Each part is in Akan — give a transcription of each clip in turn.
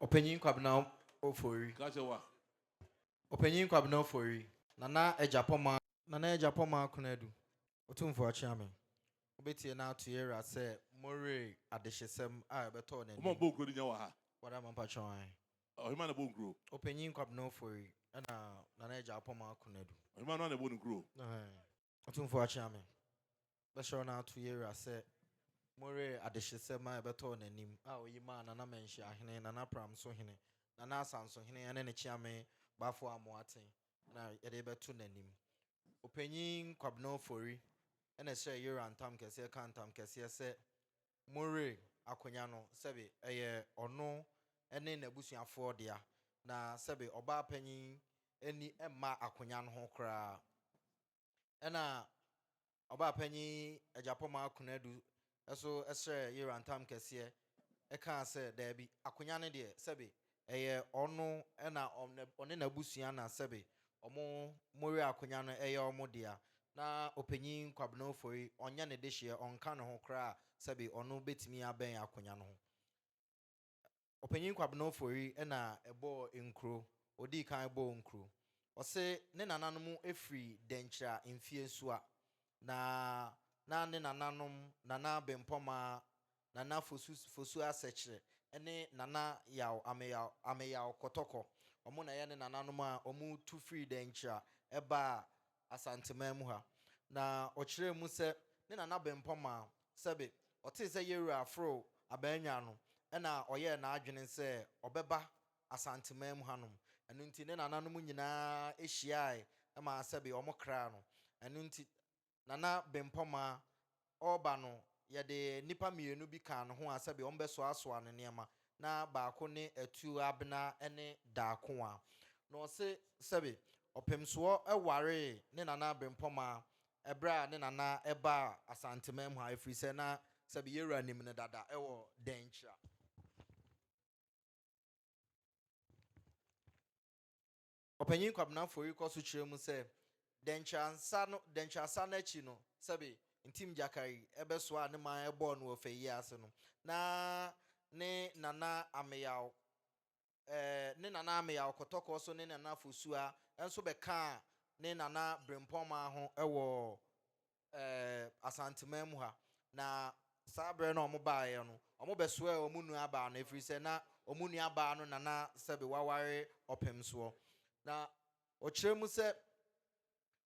Ɔpanyin Kwabena Ofori. Ka kyerɛ wa. Ɔpanyin Kwabena Ofori. Nana Agyapɔmaa. Nana Agyapɔmaa Konadu. Otumfo Akyeame. Wobɛtie na ato yɛwura sɛ more adehyesɛm a ɛbɛtɔɔ n'anim. Ɔma ɔbɔɔ nkuro de nya wɔ ha. Wada ma mpakyɛ wo ae. Ɔhemaa na ɛbɔɔ nkuro. Ɔpanyin Kwabena Ofori ɛna Nana Agyapɔmaa Konadu. Ɔhemaa no ara na ɛbɔɔ ne nkuro o. Ɛhɛɛ. Otumfoɔ Akyeame, bɛhyɛ wo na ato yɛwura sɛ moree adehyesɛm a ɛbɛtɔɔ n'anim a ɔyi maa Nana Manhyiahene, Nana Pramsohene, Nana Asansohene ɛne ne kyeame Bafo Amoaten na yɛde rebɛto n'anim. Ɔpanyin Kwabena Ofori na ɛhyɛɛ yɛwura ntam kɛseɛ kaa ntam kɛseɛ sɛ Murray akonnwa no sɛbe ɛyɛ ɔno ne n'abusuafoɔ dea, na sɛbe ɔbaapanyin ani mma akonnwa no ho koraa. Ɛnna ɔbaapanyin Agyapɔmmaa Konadu nso srɛɛ Yera ntam kɛseɛ kaa sɛ, Daabi, akonnwa no deɛ, sɛbe ɛyɛ ɔno na ɔne n'abusua na sɛbe ɔmo more akonya no ɛyɛ ɔmo dea na Ɔpanyin Kwabena Ofori ɔnyɛ ne dehyeɛ ɔnka ne ho koraa sɛbe ɔno bɛtumi abɛn akonya no ho. Ɔpanyin Kwabena Ofori na ɛbɔɔ nkuro, ɔdii kan bɔɔ nkuro. Ɔse ne nananom firi Dɛnkyira Mfeɛ Nsua na na ne nananom Nana Bempɔmaa Nana Fosu Fosu Asekyere ne Nana Yaw Ameyaw Ameyaw Kɔtɔkɔ. Wɔn na yɛne nananom a wɔtu firii Dankyira baa Asanteman mu ha. Na ɔkyerɛɛ mu sɛ ne nana Bempɔ Maa, sɛbe, ɔtee sɛ Yewura aforo Abannwaa no na ɔyɛɛ n'adwene sɛ ɔbɛba Asanteman mu hanom. Ɛno nti ne nananom nyinaa hyiaae maa sɛbe wɔkraa no. Ɛno nti. Nana Bempɔmaa ɔreba no, yɛde nnipa mmienu bi kaa ne ho a sɛdeɛ wɔbɛsoasoa ne nneɛma. Na baako ne Atuo Abena ne Daakoa. Na ɔse sɛbe Ɔpemsoɔ waree ne Nana Bempɔmaa ɛberɛ a ne Nana baa Asanteman mu ha ɛfiri sɛ na sɛbe yɛwura nim no dada wɔ Dankyira. Ɔpanyin Kwabena Afori kɔ so kyerɛ mu sɛ, Dɛnkyɛrasa no dɛnkyɛrasa no akyi no, sɛbe Ntim Gyakari bɛsoaa ne man bɔɔ no wɔ fayie ase no, na ne nana Ameyaw eh, ne nana Ameyaw Kɔtɔkɔ so ne ne nana Fosuaa nso bɛkaa ne nana Brempɔn man ho wɔ ɛɛ, Asanteman mu ha, na saa berɛ no a wɔbaeɛ no, wɔbɛsoɛɛ wɔn nuabaa no, ɛfiri sɛ na wɔn nuabaa no na na sɛbe waware ɔpem soɔ. Na wɔkyerɛ mu sɛ,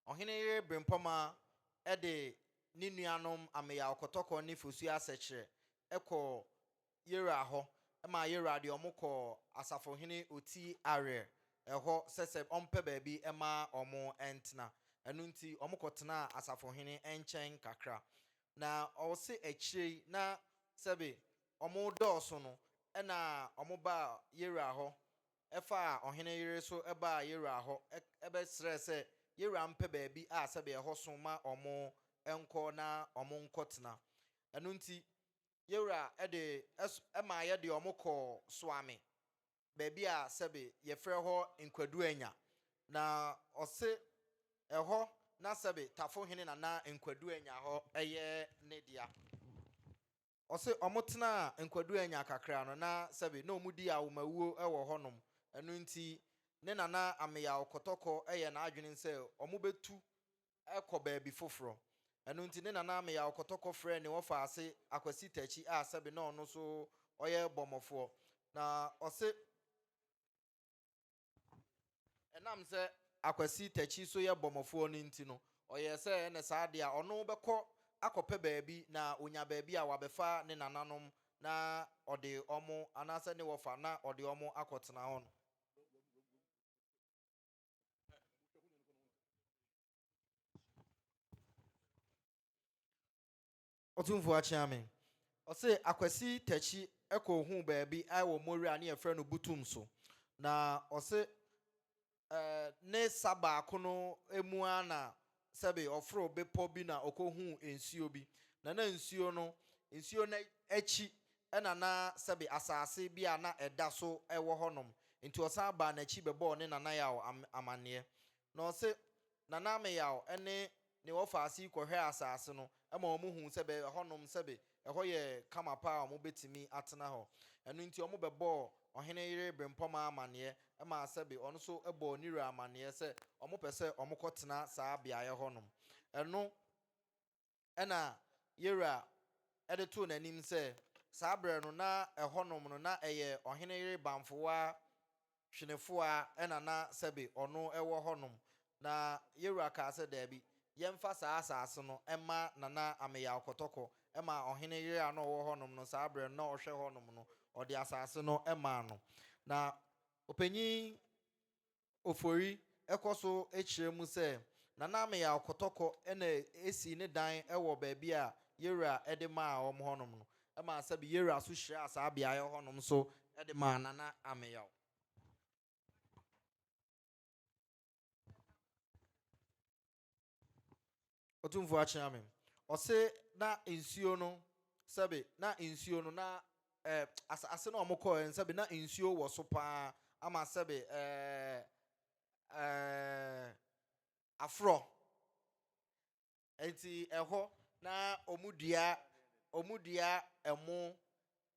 Ɔhene yere Brempɔmaa de ne nuanom Ameyaw Kɔtɔkɔ ne Fosu Asɛkyerɛ kɔɔ Yeroa hɔ maa Yeroa de wɔn kɔɔ asafohene oti Ariel hɔ sɛ sɛ ɔmpɛ baabi mma wɔn ntena. Ɛno nti, wɔkɔtenaa asafohene nkyɛn kakra. Na ɔse akyire yi na sɛbe wɔredɔɔso no na wɔbaa Yeroa hɔ faa ɔhene yere so baa Yeroa hɔ bɛsrɛɛ sɛ Yeroa mpɛ baabi a sɛbe ɛhɔ so ma wɔn nkɔ na wɔnkɔtena. Ɛno nti, Yɛ Wura de s maa yɛ de wɔn kɔɔ Suame, baabi a sɛbe yɛfrɛ hɔ Nkwaduanya, na ɔse ɛhɔ na sɛbe Tafo hene na na Nkwaduanya hɔ yɛ ne dea. Ɔse wɔn tenaa Nkwaduanya kakra no na sɛbe na wɔn di awomawuo wɔ hɔnom, ɛno nti ne Nana Ameyaw Kɔtɔkɔ yɛɛ n'adwene sɛ wɔn bɛtu kɔ baabi foforɔ. Ɛno nti ne nana Ameyaw kɔtɔ kɔfrɛɛ ne wɔfaase Akwasi Takyi a sɛbe na ɔno nso ɔyɛ bɔmmɔfoɔ. Na ɔse, ɛnam sɛ Akwasi Takyi nso yɛ bɔmmɔfoɔ no nti no, ɔyɛɛ sɛ ɛne saa deɛ a ɔno bɛkɔ akɔpɛ baabi na ɔnya baabi a wabɛfa ne nananom na ɔde wɔn anaasɛ ne wɔfa na ɔde wɔn akɔtena hɔ no. ɔtumfoɔ akyea me ɔse akwasi takyi ɛkɔ hu baabi ɛwɔ mori a ne yɛfrɛ no butum so na ɔse ɛɛ ne sa baako no emu a na sɛbe ɔforoo bepɔ bi na ɔkɔhuu nsuo bi, na na nsuo no, nsuo no akyi na na sɛbe asase bi a na ɛda so wɔ hɔnom. Nti ɔsan baa n'akyi bɛbɔɔ ne Nana Yaw amanneɛ. Na ɔse, Nana Meyaw ne ne wɔfaa ase yi kɔhwɛɛ asase no ma wɔhuu sɛbe ɛhɔnom sɛbe Ɛhɔ yɛ kama paa a wɔbɛtumi atena hɔ. Ɛno nti, wɔbɛbɔɔ ɔhene yere berempɔmaa amanneɛ maa sɛbe ɔno nso bɔɔ ne wura amanneɛ sɛ wɔpɛ sɛ wɔkɔtena saa beaeɛ hɔnom. Ɛno na Yerah de too n'anim sɛ saa berɛ no, na ɛhɔnom no, na ɛyɛ ɔhene yere Bamfowaa Twenefo ara na na sɛbe ɔno wɔ hɔnom, na Yewura kaa sɛ, Daabi, yɛmfa saa asaase no mma Nana Ameyaw Kɔtɔkɔ, ɛmaa ɔhene yere a na ɔwɔ hɔnom no saa berɛ no, na ɔhwɛ hɔnom no, ɔde asaase no maa no. Na Ɔpanyin Ofori kɔ so kyerɛ mu sɛ, Nana Ameyaw Kɔtɔkɔ na ɛsii ne dan wɔ baabi a Yewura de maa wɔn hɔnom no, Ɛmaa sɛbe yewura so hyiraa saa beaeɛ hɔ nom so de maa Nana Ameyaw. Otumfoɔ Akyeamem. Ɔse na nsuo no sɛbe na nsuo no na eh, asase na wɔn kɔɛ no sɛbe na nsuo wɔ so paa ama sɛbe eh, eh, aforɔ Enti ɛhɔ na wɔdua wɔdua ɛmo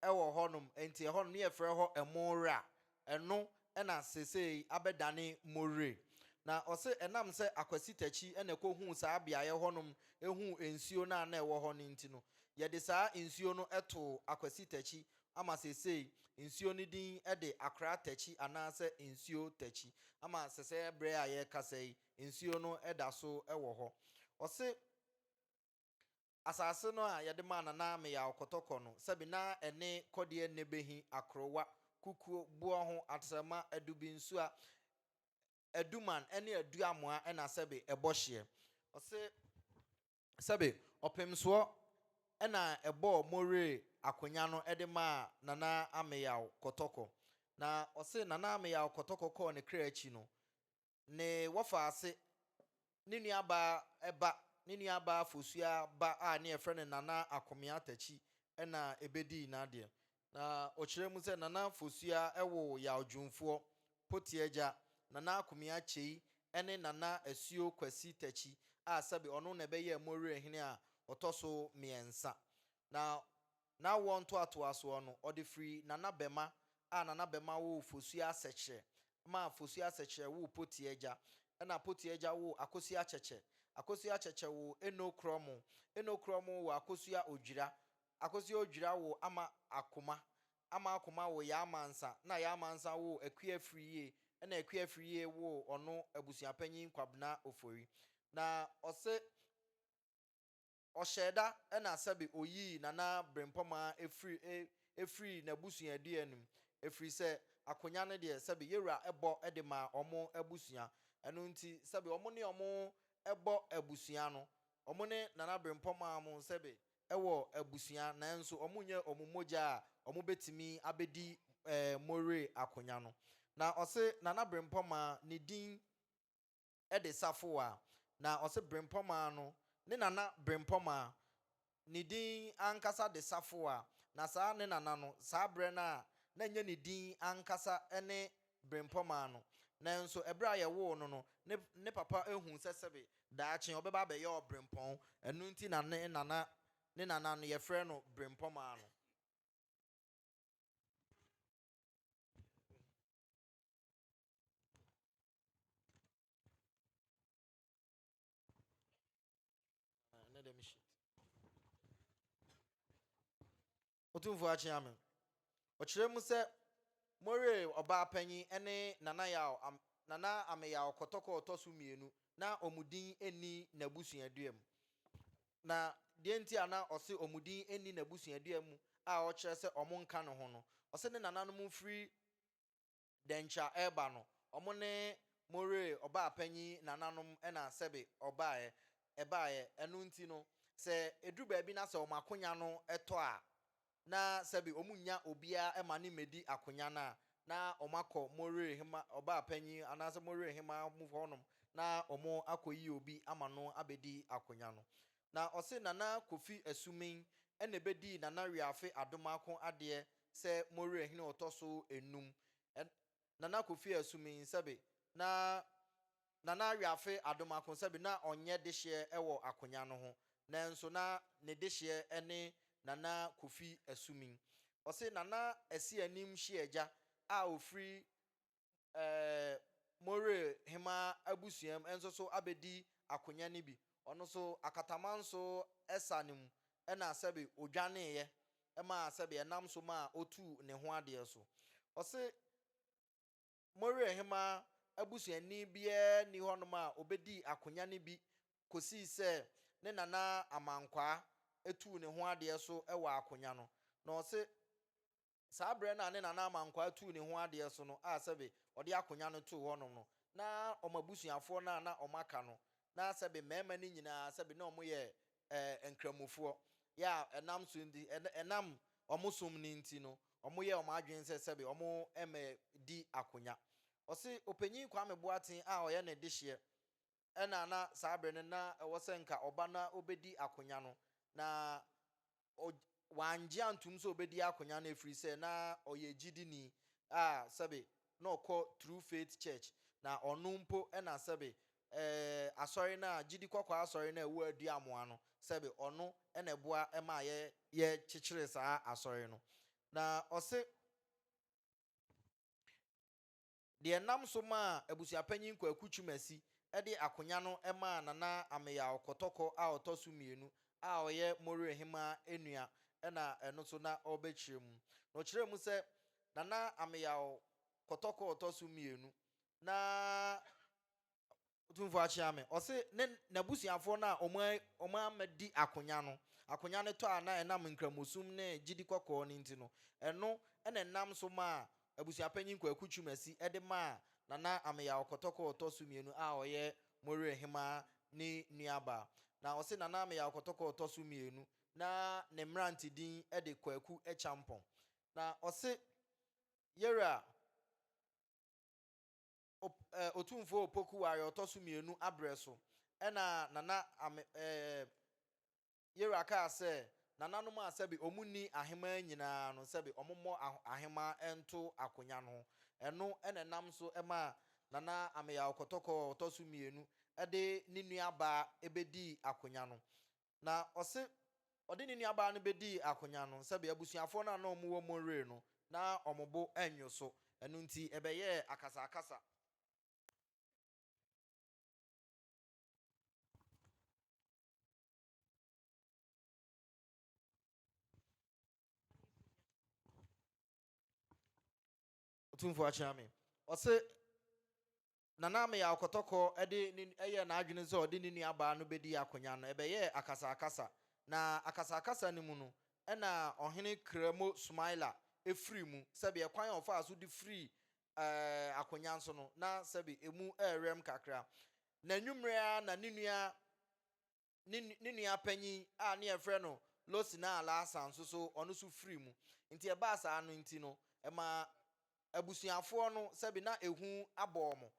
wɔ hɔnom, enti ɛhɔnom ne yɛfrɛ hɔ ɛmo wura. Ɛno na seesei abɛdane Mowire. Na ɔse ɛnam sɛ Akwasi Takyi na ɛkɔhuu saa beaeɛ hɔnom huu nsuo no a na ɛwɔ hɔ no nti no, yɛde saa nsuo no too Akwasi Takyi ama seesei nsuo no din de Akora Takyi anaasɛ Nsuo Takyi ama sɛsɛɛ berɛ a yɛrekasa yi, nsuo no da so wɔ hɔ. Ɔse asase no a yɛde maa Nana Meyaw Kɔtɔkɔ no, sɛbe na ɛne Kɔdeɛ Nnebehi, Akorowa, Kukuo, Boɔho, Atrɛma, Adubinsuwa, Aduman ne Aduamoa na sɛbe ɛbɔ hyeɛ. Ɔse sɛbe ɔpemsoɔ na ɛbɔɔ Moree akonya no de maa Nana Ameyaw Kɔtɔkɔ. Na ɔse Nana Ameyaw Kɔtɔkɔ kɔɔ ne kra akyi no, ne wɔfaase, ne nuabaa ba, ne nuabaa Fosuaa ba a ne yɛfrɛ no Nana Akomea Takyi na ɛbɛdii n'adeɛ. Na ɔkyerɛ mu sɛ Nana Fosuaa woo Yaw Dwumfoɔ, Pote agya, Nana Akomea Kyei ne Nana Asuo Kwasi Takyi a sɛbe ɔno na ɛbɛyɛɛ Morier hene a ɔtɔ so mmiɛnsa. Na N'awoɔ ntoatoasoɔ no, ɔde firi Nana Bɛma a Nana Bɛma woo Fosuo Asɛkyerɛ ma Fosuo Asɛkyerɛ woo Potie Agya ɛna Potie Agya woo Akosuo Akyɛkyɛ, Akosuo Akyɛkyɛ woo Eno Krɔmo, Eno Krɔmo woo Akosua Odwira, Akosua Odwira woo Ama Akoma, Ama Akoma woo Yaa Mansa na Yaa Mansa woo Akua Afiriyie ɛna Akua Afiriyie woo ɔno Abusuapanyin Kwabena Ofori. Na ɔse. Ɔhyɛɛda na sɛbe oyii Nana Brempɔmaa firi firii n'abusuaadua no mu, ɛfiri sɛ akonya no deɛ sɛbe Yewura bɔ de ma wɔn abusua. Ɛno nti sɛbe wɔn ne wɔn bɔ abusua no, wɔn ne Nana Brempɔmaa mo sɛbe wɔ abusua nanso wɔn nyɛ wɔn mogya a wɔn bɛtumi abɛdi Moree akonya no. Na ɔse Nana Brempɔmaa ne din de safoa na ɔse Brempɔmaa no ne nana Brempɔmaa ne din ankasa de safoa na saa ne nana no saa berɛ no a na nyɛ ne din ankasa ne Brempɔmaa no nanso ɛberɛ a yɛwoo no no ne ne papa huu sɛ sɛbe daakye ɔbɛba abɛyɛ ɔbrempɔn ɛno nti na ne nana ne nana no yɛfrɛ no Brempɔmaa no. Otumfoɔ akyea me. Ɔkyerɛ mu sɛ Moore ɔbaa panyin ne Nana Yaw, Nana Ameyaw Kɔtɔkɔ ɔtɔ so mmienu na wɔn din nni n'abusuadua mu. Na deɛ nti a na ɔse wɔn din nni n'abusuadua mu a ɔkyerɛ sɛ wɔn nka ne ho no, ɔse ne nananom firi Dɛnkyɛ a ɛreba no, ɔmo ne mo were ɔbaapanyin nananom na sɛbe ɔbaeɛ, ɛbaeɛ. Ɛno nti no, sɛ ɛduru baabi na sɛ wɔn akonya no tɔ a, na sɛbe wɔn nnya obiara mma no mmɛdi akonya no a, na wɔn akɔ mo were hema, ɔbaapanyin anaasɛ mo were hemaa mu hɔnom na wɔn akɔyi obi ama no abɛdi akonya no. Na ɔse Nana Kofi Asuming ɛna ɛbɛdii Nana Wiafe Adomaako adeɛ sɛ Mowere Hene ɔtɔ so nnum. Ɛn Nana Kofi Asuming sɛbe na Nana Wiafe Adomaako sɛbe na ɔnyɛ dehyeɛ ɛwɔ akonya no ho, nanso na ne dehyeɛ ɛne Nana Kofi Asuming. Ɔse Nana Asianim Hyeagya a ɔfiri More hema abusua mu nso so abɛdi akonya no bi. Ɔno nso, akatama nso sa no mu na sɛbe ɔdwaneeɛ maa sɛbe ɛnam so maa ɔtuu ne ho adeɛ so. Ɔse, More hema abusuani biara nni hɔnom a ɔbɛdii akonya no bi kɔsii sɛ ne nana Amankwaa tuu ne ho adeɛ so wɔ akonya no. Na ɔse, Saa berɛ no a ne nana ama nkwaa tuu ne ho adeɛ so no a sɛbe ɔde akonwa no too hɔnom no, na wɔn abusuafoɔ no a na wɔaka no, na sɛbe mmarima no nyina ara sɛbe na wɔyɛ eh, Nkramofoɔ, yɛ a ɛnam so nti, ɛn, ɛnam wɔn som no nti no, wɔyɛɛ wɔn adwene sɛ sɛbe wɔmmɛdi akonwa. Ɔse, Ɔpanyin Kwame Boateng a ɔyɛ ne dehyeɛ ɛna na saa bere no na ɛwɔ sɛ nka ɔba na obedi akonya no, na ɔgy wangye antom sɛ obedi akonya no efiri sɛ na ɔyɛ gyidini a sɛbe na ɔkɔ True Faith Church, na ɔno mpo ɛna sɛbe ɛɛ asɔre no a gyidi kɔkɔɔ asɔre no a ɛwɔ Aduamoa no sɛbe ɔno ɛna ɛboa ɛmaa yɛ yɛ kyekyeree saa asɔre no, na ɔse. deɛ ɛnam so maa Abusuapanyin Kwaku Twumasi de akonya no maa Nana Ameyaw Kɔtɔkɔ a ɔtɔ so mmienu a ɔyɛ Moree Hemaa nua na ɛno nso na ɔrebɛkyerɛ mu. Na ɔkyerɛɛ mu sɛ Nana Ameyaw Kɔtɔkɔ a ɔtɔ so mmienu na Otumfoɔ akyea me. Ɔse ne n'abusuafoɔ no a wɔn amma di akonya no, akonya no tɔ a na ɛnam Nkramosum ne gyidi kɔkɔɔ no nti no, ɛno na ɛnam so maa Abusuapanyin Kwaku Twumasi de maa Nana Ameyaw Kɔtɔkɔ a ɔtɔ so mmienu a ɔyɛ Moyerɛhemaa ne nuabaa. Na ɔse Nana Ameyaw Kɔtɔkɔ a ɔtɔ so mmienu na ne mmerante din de Kwaku Akyampong. Na ɔse Yera. Op, eh, Otumfoɔ Opoku wɔ ayɛ ɔtɔ so mmienu abrɛ so, ɛna Nana Ame, eh, Yera kaa sɛ Nananom a sɛbe ɔmo nni ahemaa nyinaa no sɛbe ɔmo mmɔ ahemaa nto akonya no ho. Ɛno na ɛnam so maa Nana Ameyaw Kɔtɔkɔ a ɔtɔ so mmienu de ne nua baa bɛdii akonya no. Na ɔse ɔde ne nuabaa no bɛdii akonya no, sɛdeɛ abusuafoɔ no a na wɔwɔ Monroe no, na wɔn bo nnwo so, ɛno nti ɛbɛyɛɛ akasakasa. Otumfoɔ akyea me. Ɔse Nana Ameyaw Kɔtɔkɔ de ne yɛɛ n'adwene sɛ ɔde ne nuabaa no bedi akonyan no, ɛbɛyɛɛ akasakasa, na akasakasa no mu no, ɛnna Ɔhene Kremo Sumaila firii mu. Sɛbe ɛkwan a ɔfaa so de firii akonyan so no, na sɛbe emu rewɛm kakra. N'anwummere ara na ne nua ne ne nua panyin a ne yɛfrɛ no Losina Alhassan nso so ɔno nso firi mu. Nti ɛbaa saa no nti no, ɛmaa abusuafoɔ no sɛbe na ehu abɔ wɔn.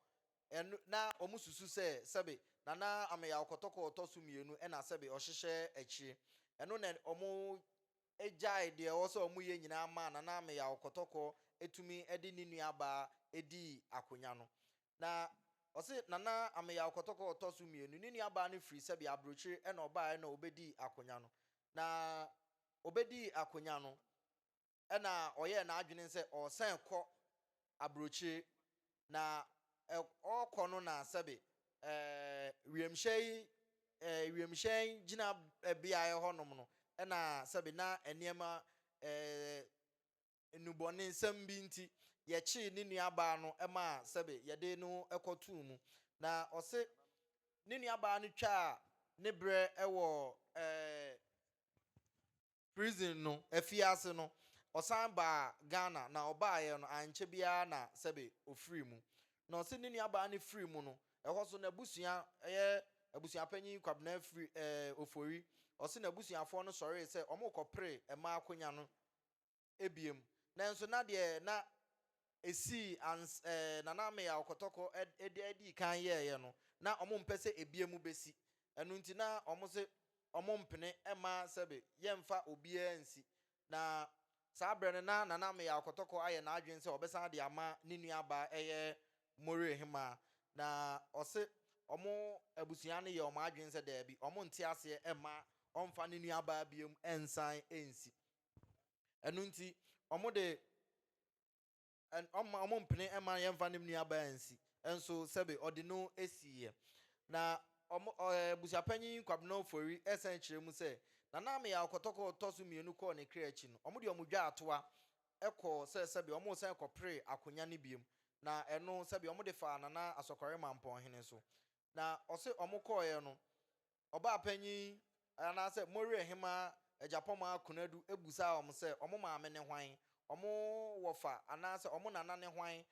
Ɛno na wɔn susu sɛ sɛbe Nana Ameyaw Kɔtɔkɔ a ɔtɔ so mmienu na sɛbe ɔhyehyɛ akyire. Ɛno na wɔn gyae deɛ ɛwɔ sɛ wɔn yɛ nyinaa maa Nana Ameyaw Kɔtɔkɔ tumi de ne nua baa dii akonya no. Na ɔse Nana Ameyaw Kɔtɔkɔ ɔtɔ so mmienu, ne nua baa no firi sɛbea abrokyire ɛna ɔbaaɛ na ɔbɛdii akonya no. Na ɔbɛdii akonya no ɛna ɔyɛɛ n'adwene sɛ ɔɔsane kɔ abrokyire. Na ɛ ɔɔkɔ no na sɛbe ɛɛ wiemhyɛ yi ɛɛ wiemhyɛn gyina beaɛ hɔ nom no ɛna sɛbe na nneɛma ɛɛ nnubɔnensɛm bi nti, yɛkyee ne nuabaa no maa sɛbe yɛde no kɔtoo mu. Na ɔse ne nuabaa no twaa ne berɛ wɔ ɛɛɛ prison no afiase no, ɔsan baa Ghana na ɔbaeɛ no ankyɛ biara na sɛbe ɔfirii mu. Na ɔse ne nuabaa no firii mu no, ɛhɔ nso n'abusua, ɛyɛ abusuapanyin Kwabena firi ɛɛɛ Ofori, ɔse n'abusuafoɔ no sɔree sɛ wɔrekɔpere mmaa akonya no bia mu. Nanso na deɛ na ɛsii ans eh, Nana Ameyaw Kɔtɔkɔ ɛd ɛd dii kan yɛɛeɛ no, na wɔn mpɛ sɛ ɛbia mu bɛsi. Ɛno nti na wɔn se wɔn mpene mma sɛbe yɛmfa obiara nsi. Na saa berɛ no na Nana Ameyaw Kɔtɔkɔ ayɛ n'adwene sɛ ɔbɛsan de ama ne nuabaa ɛyɛ Morehemaa. Na ɔse wɔn abusua no yɛ wɔn adwene sɛ daabi, wɔn nte aseɛ mma ɔmfa ne nuabaa bia mu nsan nsi. Ɛno nti, wɔde wɔn wɔmpene mma yɛmfa ne nuabaa nsi nso sɛbe ɔde no siiɛ. Na wɔn ɛɛ abusuapanyin Kwabena Ofori ɛsan kyerɛ mu sɛ, Nana Ameyaw kɔtɔkɔ ɔtɔ so mmienu kɔɔ ne kra akyi no, wɔde wɔn dwaa toa kɔɔ sɛ sɛbe wɔresan kɔpere akonya no biom. Na ɛno sɛbe wɔde faa Nana Asɔkɔre Mampɔnhene so. Na ɔse wɔkɔeɛ no, ɔbaapanyin anaasɛ Moriohemaa Agyapɔmaa Konadu busaa wɔn sɛ wɔn maame ne hwan, wɔn wɔfa anaasɛ wɔn nana ne hwan,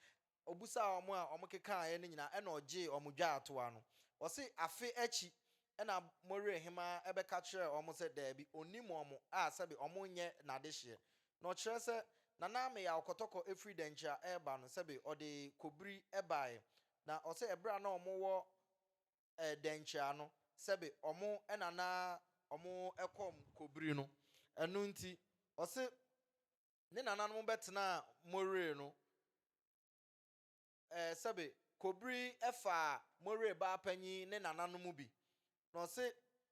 obusaa wɔn a wɔkekaaɛ no nyinaa ɛna ɔgyee wɔn dwaatoa no. Ɔse afe akyi ɛna Moriohemaa bɛka kyerɛɛ wɔn sɛ daabi, ɔnnim wɔn a sɛbe wɔn nyɛ n'adehyeɛ. Na ɔkyerɛ sɛ Nana Meyaw Kɔtɔkɔ firi Dankyira reba no sɛbe ɔde kobiri baeɛ. Na ɔse ɛberɛ a na wɔwɔ dɛnkyerɛ ano sɛbe ɔmo na na ɔmo kɔm kobiri no. Ɛno nti, ɔse ne nananom bɛtenaa Moree no sɛbe kobiri faa Moree baapanyin ne nananom bi. Na ɔse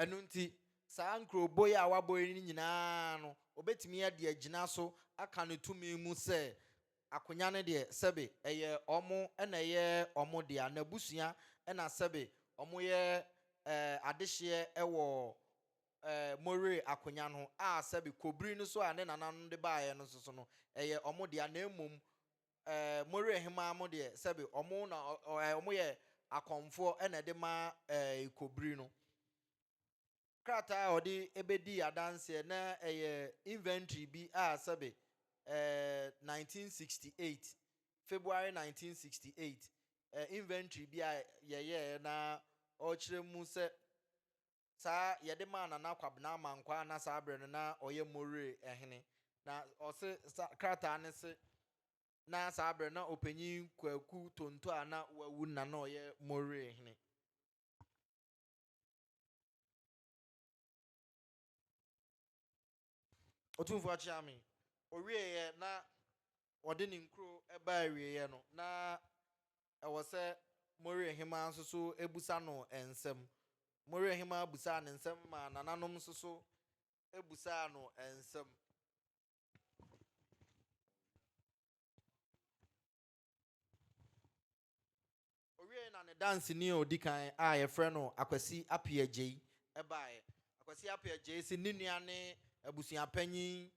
Ɛno nti, saa nkurobo yi a wɔabɔ yi no nyinaa no, wɔbɛtumi de agyina so aka no tumi mu sɛ akonya no deɛ, sɛbe ɛyɛ wɔn na ɛyɛ wɔn dea, n'abusua na sɛbe wɔyɛ eh, adehyeɛ wɔ eh, Moree akonya no ho, a sɛbe kobiri no so a ne nananom de baeɛ no nso so no, ɛyɛ wɔn dea, na mmom eh, Moreɛ hemaa mo deɛ sɛbe ɔmo na eh, ɔmo yɛ akɔmfoɔ ɛna ɛde ma eh, ekobiri no. Krataa a ɔde ebedii adanseɛ na ɛyɛ inventory bi a sɛbe eh, 1968, February 1968, eh, inventory bi a yɛyɛɛ na ɔkyerɛ mu sɛ Saa yɛde maa Nana Kwabena Amankwaa na saa berɛ no na ɔyɛ Moree hene. Na ɔse sa krataa no se na saa berɛ na Ɔpanyin Kwaku Tonto a na wawu na na ɔyɛ Moree hene. Otumfoɔ akyea me. Ɔwieeɛ na ɔde ne nkuro baa awieeɛ no, na ɛwɔ sɛ Moriahima nso so bisa no nsɛm. Moriahima bisaa no nsɛm maa nananom nso so bisaa no nsɛm. Owiei na ne danseni a odi kan a wɔfrɛ no Akwasi Appiah Agyei bae. Akwasi Appiah Agyei se ne nua ne abusua panyin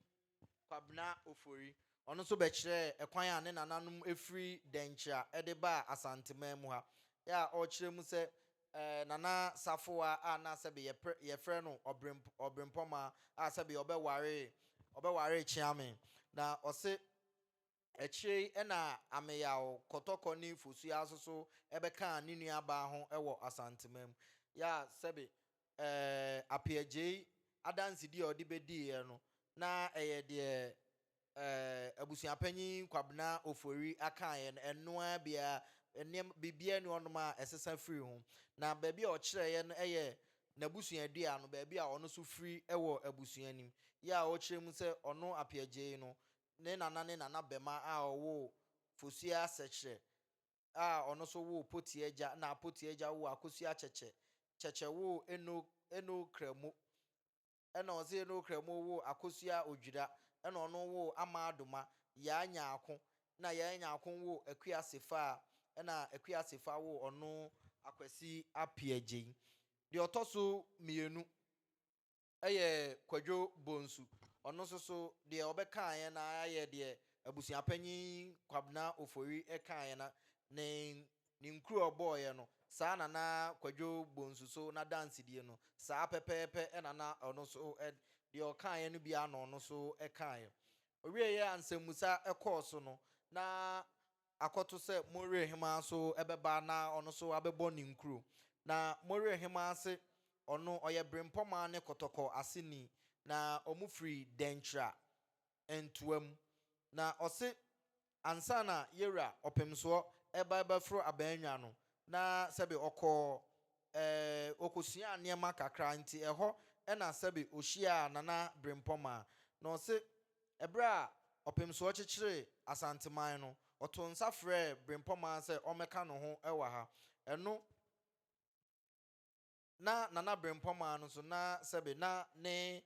Kwabena Ofori. Ɔno nso bɛkyerɛɛ kwan a ne nananom firi Dɛnkyira de baa Asanteman mu ha a ɔrekyerɛ mu sɛ Nana Safoa a na sɛbe yɛfrɛ no Ɔberempɔmaa a sɛbe ɔbɛwaree Kyeame na ɔse Akyire yi na Ameyaw Kɔtɔkɔ ne Fosu Asoso bɛkaa ne nuabaa ho wɔ Asantema mu. Yɛ a sɛbe ɛɛ Apeh Agyei adansedie a ɔde bɛdiiɛ no, na ɛyɛ deɛ ɛɛ Abusuapanyin Kwabena Ofori akaeɛ no, ɛno ara bi ara, nneɛma, biribiara nni hɔnom a ɛsesa firi ho. Na baabi a ɔkyerɛeɛ no yɛ n'abusuadua no, baabi a ɔno nso firi wɔ abusua no mu. Yɛ a ɔkyerɛ mu sɛ ɔno Apeh Agyei no, ne nana ne nanabɛma a ɔwoo Fosuo Asɛkyerɛ a ɔno nso woo Potie Agya na Potie Agya woo Akosua Akyɛkyɛ. Kyɛkyɛ woo Eno Eno Kramo ɛna ɔse Eno Kramo woo Akosua Odwira ɛna ɔno woo Amaa Doma, Yaa Nyaako na Yaa Nyaako woo Akua Sefaa ɛna Akua Sefaa woo ɔno Akwasi Apeagyen. Deɛ ɔtɔ so mmienu. Ɛyɛ Kwadwo Bonsu. Ɔno nso so deɛ ɔbɛkaeɛ no ara yɛ deɛ abusuapanyin Kwabena Ofori kaeɛ no ne ne nkuro a ɔbɔeɛ no, saa na na Kwadwo Bonsu so n'adansedie no, saa pɛpɛɛpɛ na na ɔno nso deɛ ɔkaeɛ no bi ara na ɔno nso kaeɛ. Ɔwieeɛ a nsɛmmusa kɔɔ so no, na akɔto sɛ More hemmaa nso bɛba na ɔno nso abɛbɔ ne nkuro. Na More hemmaa se ɔno ɔyɛ Berempɔmaa ne Kɔtɔkɔ aseni, na wɔfiri Dɛnkyira ntoa mu. Na ɔse ansa na Yewura Ɔpemsoɔ reba bɛforo Abɛɛnwa no, na sɛbe ɔkɔɔ ɛɛ ɔkɔsuaa nneɛma kakra, nti ɛhɔ na sɛbe ɔhyiaa Nana Berempɔmaa. Na ɔse Bere a Ɔpemsoɔ kyekyeree Asanteman no, ɔtoo nsa frɛɛ Brempɔmaa sɛ ɔmmɛka ne ho wɔ ha. Ɛno na Nana Brempɔmaa no nso na sɛbe na ne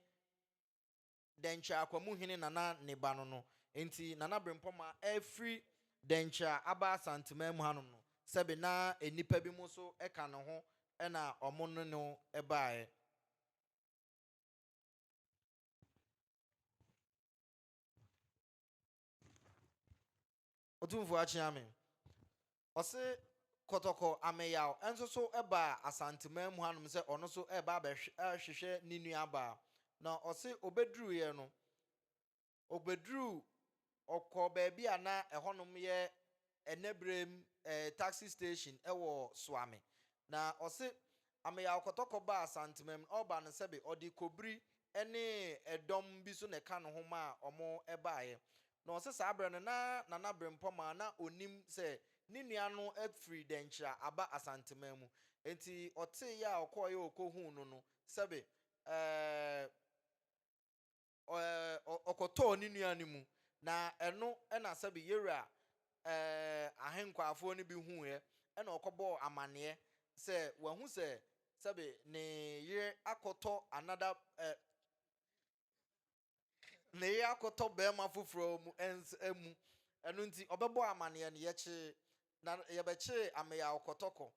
Dɛnkyɛr Akwamuhene nana ne ba no no. Enti Nana Brempɔmaa afiri Dɛnkyɛr aba Asanteman mu hanom no, sɛbe na nnipa binom nso ka ne ho na wɔne no baeɛ. ɔtumfoɔ akyea me ɔse kɔtɔkɔ ameyaw nso so baa asanteman mu hanom sɛ ɔno so ɛreba abɛhwehwɛ ne nuabaa na ɔse ɔbɛduruiɛ no ɔbɛduru Ɔkɔɔ baabi a na ɛhɔnom yɛ ɛnɛberɛm taxi station wɔ Suame. Na ɔse Ameyaw kɔtɔkɔ baa Santemam no ɔreba no sɛbe ɔde Kobiri ne ɛdɔm bi nso na ɛka ne ho maa wɔbaeɛ. Na ɔse saa berɛ no na Nana Brempɔmaa na ɔnim sɛ ne nua no afiri Dɛnkyira aba Asanteman mu. Enti ɔteeɛ a ɔkɔeɛ a ɔkɔhuu no no sɛbe ɛɛɛ. ɔ, ɔkɔtɔɔ ne nua no mu, na ɛno na sɛbe Yeria ɛ, ahenkwafoɔ no bi huuɛ, ɛna ɔkɔbɔɔ amaneɛ sɛ wahu sɛ sɛbe ne yere akɔtɔ anada ɛ, ne yere akɔtɔ barima foforɔ mu, ɛns, mu. Ɛno nti ɔbɛbɔɔ amaneɛ no, yɛkyee, na yɛbɛkyee Ameya ɔkɔtɔkɔ.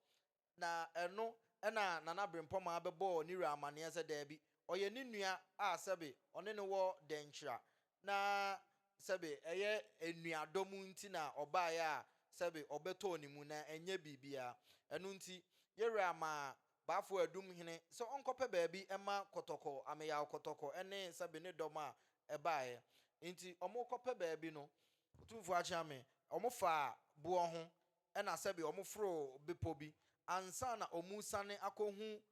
Na ɛno na Nana Brempɔmaa bɛbɔɔ ne wura amanneɛ sɛ daabi, ɔyɛ ne nua a sɛbe ɔne no wɔ dɛnkyira, na sɛbe ɛyɛ anuadɔm nti na ɔbaeɛ a sɛbe ɔbɛtɔɔ ne mu, na ɛnyɛ biribiara. Ɛno nti, yɛn wura maa Baafoɔ Adum hene sɛ ɔnkɔpɛ baabi mma Kɔtɔkɔ, Ameyaw Kɔtɔkɔ ne sɛbe ne dɔm a ɛbaeɛ. Nti wɔrekɔpɛ baabi no. Otumfoɔ Akyeame, wɔfaa boɔ ho na sɛbe wɔforo bepɔ bi ansa na wɔresiane akɔhu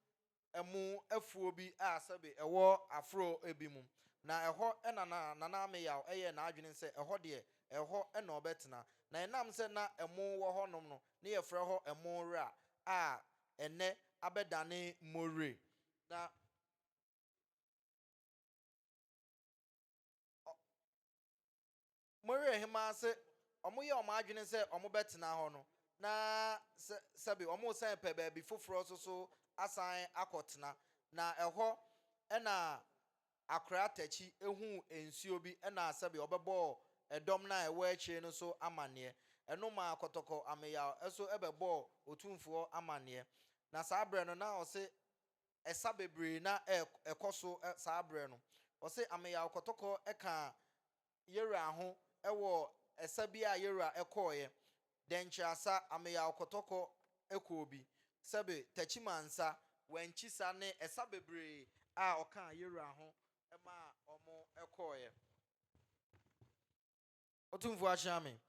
ɛmo afuo bi a sɛbe ɛwɔ aforo bi mu. Na ɛhɔ na na Nana Ameyaw yɛɛ n'adwene sɛ ɛhɔ deɛ, ɛhɔ na ɔbɛtena. Na ɛnam sɛ na ɛmo wɔ hɔnom no, ne yɛfrɛ hɔ Ɛmo Wera a ɛnnɛ abɛdane Mowire. Na Mowerɛ hemaa se wɔyɛɛ wɔn adwene sɛ wɔbɛtena hɔ no, na sɛ, sɛbe wɔresan repɛ baabi foforɔ nso so asan akɔtena. Na ɛhɔ na akoraa takyi huu nsuo bi, na sɛbe wɔbɛbɔɔ ɛdɔm no a ɛwɔ akyire no nso amanneɛ. Ɛno maa kɔtɔkɔ ameyaw nso bɛbɔɔ Otumfoɔ amanneɛ. Na saa berɛ no, na ɔse ɛsa bebree na ɛrekɔ so saa berɛ no. Ɔse ameyaw kɔtɔkɔ kaa Yera ho wɔ ɛsa bi a Yera kɔeɛ, Dɛnkyerasa, Ameyaw Kɔtɔkɔ kɔɔ bi, sɛbe Takyimansa, Wankyisa ne ɛsa bebree a ɔkaa Yera ho maa wɔkɔeɛ. Otumfoɔ akyea me.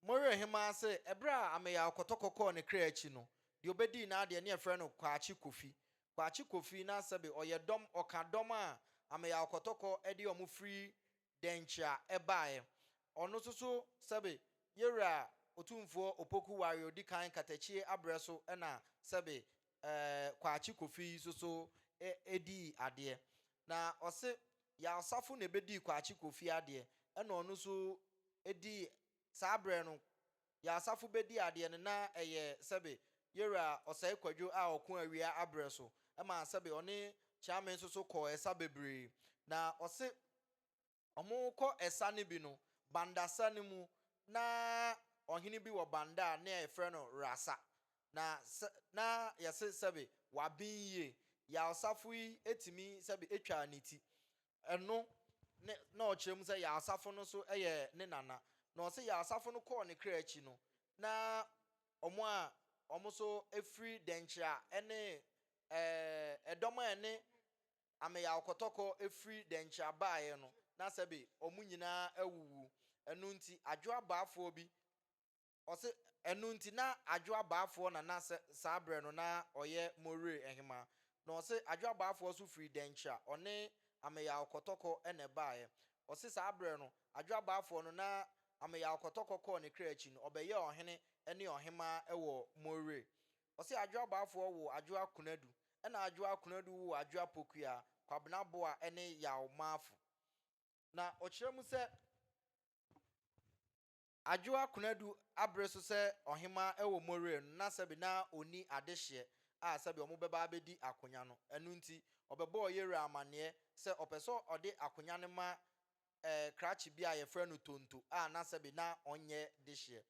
Mo werɛ hemaa sɛ ɛberɛ a Ameyaw Kɔtɔkɔ kɔɔ ne kra akyi no, deɛ ɔbɛdii n'adeɛ ne yɛfrɛ no Kwakye Kofi. Kwakye Kofi na sɛbe ɔyɛ dɔm, ɔka dɔm a Ameyaw Kɔtɔkɔ de wɔn firi Dɛnkyea baeɛ. Ɔno nso so sɛbe Yɛwura Otumfoɔ Opoku Ware a ɔdi kan Katakyie aberɛ so na sɛbe eh, Kwakye Kofi nso so eh, dii adeɛ. Na ɔse Yaw Asafo na ɛbɛdii Kwakye Kofi adeɛ ɛna ɔno nso dii saa berɛ no Yaw Asafo bɛdi adeɛ no na ɛyɛ sɛbe Yɛwura Ɔsɛe Kwadwo a ɔko awia aberɛ so ɛma sɛbe ɔne Kyeame nso so kɔɔ ɛsa bebree. Na ɔse Wɔrekɔ ɛsa no bi no, Banda sa no mu, na ɔhene bi wɔ Banda a na yɛfrɛ no Rasa. Na sɛ, na yɛse sɛbe waben yie. Yaosafo yi tumi sɛbe twaa ne ti. Ɛno ne na ɔkyerɛ mu sɛ Yaosafo no nso yɛ ne nana. Na ɔse Yaosafo no kɔɔ ne kra akyi no, na wɔn a wɔn nso firi Denkyira ne ɛɛ ɛdɔm a ɛne ameyaw kɔtɔkɔ firi dɛnkyira baeɛ no, na sɛbe wɔn nyinaa awuwu. Ɛno nti, adwo abaafoɔ bi, ɔse, ɛno nti na adwo abaafoɔ na na sɛ saa berɛ no na ɔyɛ Moree Hemaa, na ɔse adwo abaafoɔ nso firi dɛnkyira, ɔne ameyaw kɔtɔkɔ na ɛbaeɛ. Ɔse saa berɛ no, adwo abaafoɔ no na ameyaw kɔtɔkɔ kɔɔ ne kra akyi no, ɔbɛyɛɛ ɔhene ne ɔhemaa wɔ Moree. Ɔse Adwoa Boafoɔ woo Adwoa Kunadu ɛna Adwoa Kunadu woo Adwoa Pokua, Kwabena Boa ɛne Yaw Maafo. Na ɔkyerɛ mu sɛ Adwoa Kunadu abere so sɛ Ɔhemaa ɛwɔ Moreɛ no na sɛbe na ɔnni adehyeɛ a sɛbe ɔmo bɛba abɛdi akonya no. Ɛno nti ɔbɛbɔɔ Yere amaneɛ sɛ ɔpɛ sɛ ɔde akonya no ma ɛɛ krakye bi a wɔfrɛ no Tonto a na sɛbe na ɔnyɛ dehyeɛ.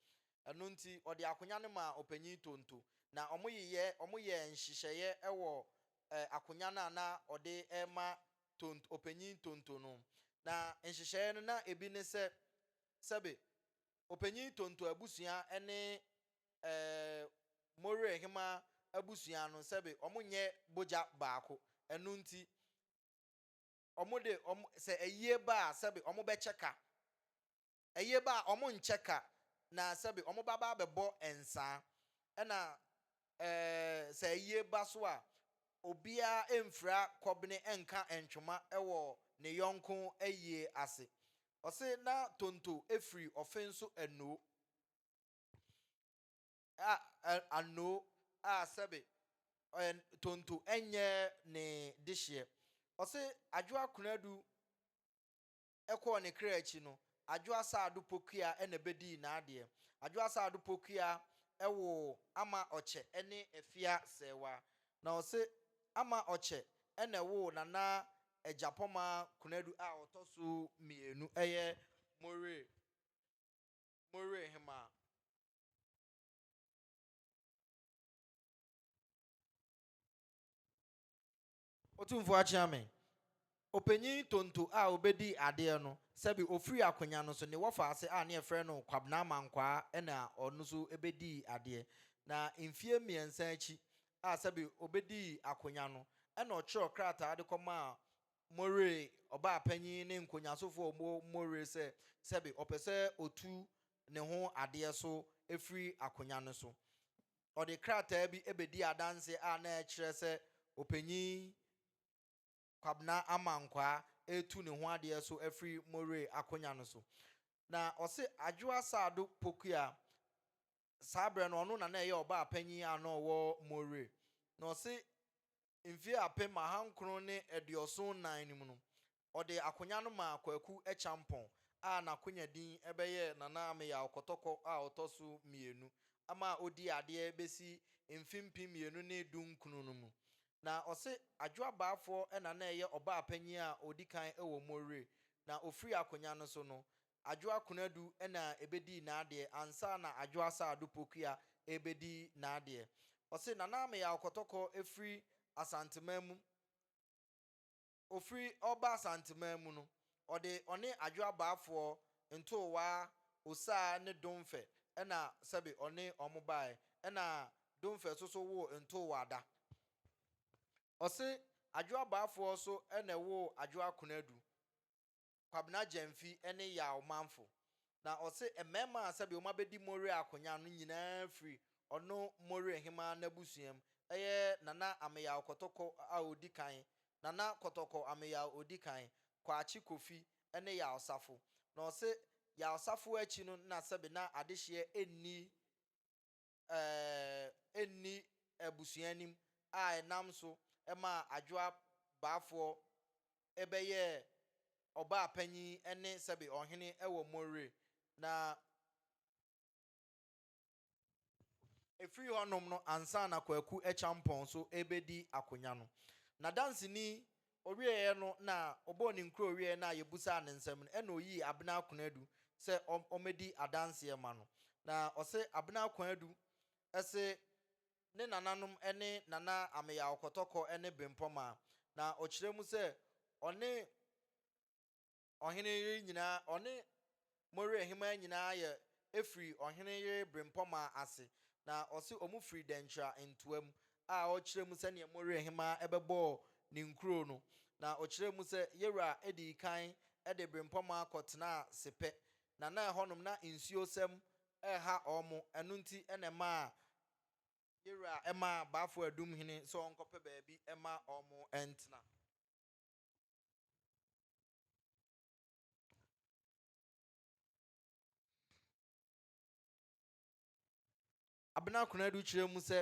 Ɛno nti, ɔde akonwa no maa Ɔpanyin Tonto, na wɔyeyɛ wɔyɛɛ nhyehyɛeɛ wɔ ɛɛ akonwa no a na ɔde rema Tonto Ɔpanyin Tonto no. Na nhyehyɛeɛ no, na ebi ne sɛ, sɛbe Ɔpanyin Tonto abusua ne ɛɛ Mowerɛhemaa abusua no, sɛbe wɔnyɛ bogya baako. Ɛno nti. wɔde wɔn sɛ ayie ba a sɛbi wɔbɛkyɛ ka, ayie ba a wɔnkyɛ ka, na sɛbi wɔbɛba abɛbɔ nsaa. Ɛna eh, sɛ ayie ba so a, obiara mfira kɔbene nka ntwoma wɔ ne yɔnko ayie ase. Ɔse na Tonto firi ɔfe nso Anoo. a ɛ anoo a sɛbe ɛ tonto nyɛ ne dehyeɛ. Ɔse Adwoa Konadu kɔɔ ne kra akyi no, Adwoa Saado Pokua na bɛdii n'adeɛ. Adwoa Saado Pokua woo Ama Ɔkyɛ ne Afia Sɛɛwa. Na ɔse Ama Ɔkyɛ na ɛwoo Nana Agyapɔma Konadu a ɔtɔ so mmienu, ɛyɛ Moray Moray Hemaa. Otumfoɔ akyea me. Ɔpanyin Tonto a ɔbɛdii adeɛ no, sɛbe ɔfiri akonya no so, ne wɔfa ase a ne yɛfrɛ no Kwabena Amankwaa na ɔno nso bɛdii adeɛ. Na mfeɛ mmiɛnsa akyi a sɛbe ɔbɛdii akonya no, ɛna ɔtwerɛɛ krataa de kɔmaa More, ɔbaapanyin ne nkonyaasofo a ɔwɔ More sɛ sɛbe ɔpɛ sɛ otu ne ho adeɛ so firi akonya no so. Ɔde krataa bi bɛdii adanse a na ɛkyerɛ sɛ Ɔpanyin Kwabena Amankwaa retu ne ho adeɛ so afiri More akonya no so. Na ɔse Adwoa Saado Pokuaa saa berɛ no ɔno na na ɛyɛ ɔbaapanyin a na ɔwɔ Moree, na ɔse mfeɛ apem ahankron ne aduɔson nnan no mu no, ɔde akonya no maa Kwaku Acheampong a n'akonya din bɛyɛɛ Nana Ameyaw Kɔtɔkɔ a ɔtɔ so mmienu ma ɔdii adeɛ bɛsi mfe mpem mmienu ne dunkron no mu. Na ɔse Adwo Abaafoɔ na na ɛyɛ ɔbaapanyin a ɔdi kan wɔ Moree, na ɔfiri akonya no so no, Adwo Akonadu na ɛbɛdii n'adeɛ ansa na Adwo Asaah Ado Pokuya rebɛdi n'adeɛ. Ɔse, Nana Ameyaw Kɔtɔkɔ firi Asanteman mu. Ɔfiri ɔreba Asanteman mu no, ɔde ɔne Adwo Abaafoɔ, Ntoowaa, Osaa ne Domfɛ na sɛbe ɔne wɔn baeɛ. Ɛna Domfɛ nso so woo Ntoowaa da. Ɔse, Adwo Abaafoɔ nso na ɛwoo Adwo Akonadu. Kwabena Gyamfi ne Yaw manfo. Na ɔse mmarima a sɛdeɛ wɔabɛdi Moriah akonya no nyinaa firi ɔno Moriah hemaa n'abusuam, ɛyɛ Nana Ameyaw Kɔtɔkɔ a ɔdi kan, Nana Kɔtɔkɔ Ameyaw ɔdi kan, Kwakye Kofi ne Yaw Safo. Na ɔse Yaw Safo akyi no na sɛbe na adehyeɛ nni ɛɛ nni abusua anim a ɛnam so maa Adwoa Baafoɔ bɛyɛɛ ɔbaa panyin ne sɛbe ɔhene wɔ Moree. Na ɛfiri hɔnom no ansa na Kwaku Acheampong nso rebɛdi akonya no, n'adanseni Ɔwieeɛ no na ɔbɔɔ ne nkuro wieeɛ no a yɛbusaa ne nsɛm no ɛna ɔyii Abena Akonadu sɛ ɔmmɛdi adanseɛ ma no. Na ɔse Abena Akonadu se ne nananom ne Nana Ameyaw Kɔtɔkɔ ne Bempɔmaa. Na ɔkyerɛ mu sɛ ɔne. ɔhene yere nyinaa, ɔne mo werɛ hemmaa nyinaa yɛ firi ɔhene yere berempɔmaa ase, na ɔse ɔmo firi Dɛnkyira ntoa mu, a ɔkyerɛɛ mu sɛdeɛ mo werɛ hemmaa bɛbɔɔ ne nkuro no, na ɔkyerɛɛ mu sɛ Yewura dii kan de berempɔmaa kɔ tenaa Sepɛ, na na ɛhɔ nom na nsuo sɛm reha ɔmo, ɛno nti na ɛmaa Yewura maa Baafoɔ Adum hene sɛ ɔnkɔpɛ baabi ma ɔmo ntena. Abena Konadu kyerɛ mu sɛ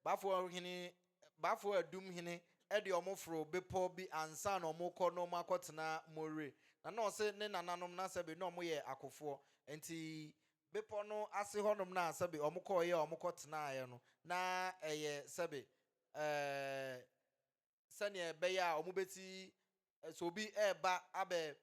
Bafoɔ hene Bafoɔ Adum hene de wɔn foro bepɔ bi ansa na wɔkɔ na wɔn akɔtena Moree. Na na ɔse ne nananom na sɛbe na wɔn yɛ akofoɔ. Nti bepɔ no ase hɔnom na sɛbe wɔn kɔɔeɛ a wɔkɔtenaeɛ no na ɛyɛ sɛbe ɛɛ sɛnea ɛbɛyɛ a wɔbɛti, sɛ obi reba abɛ,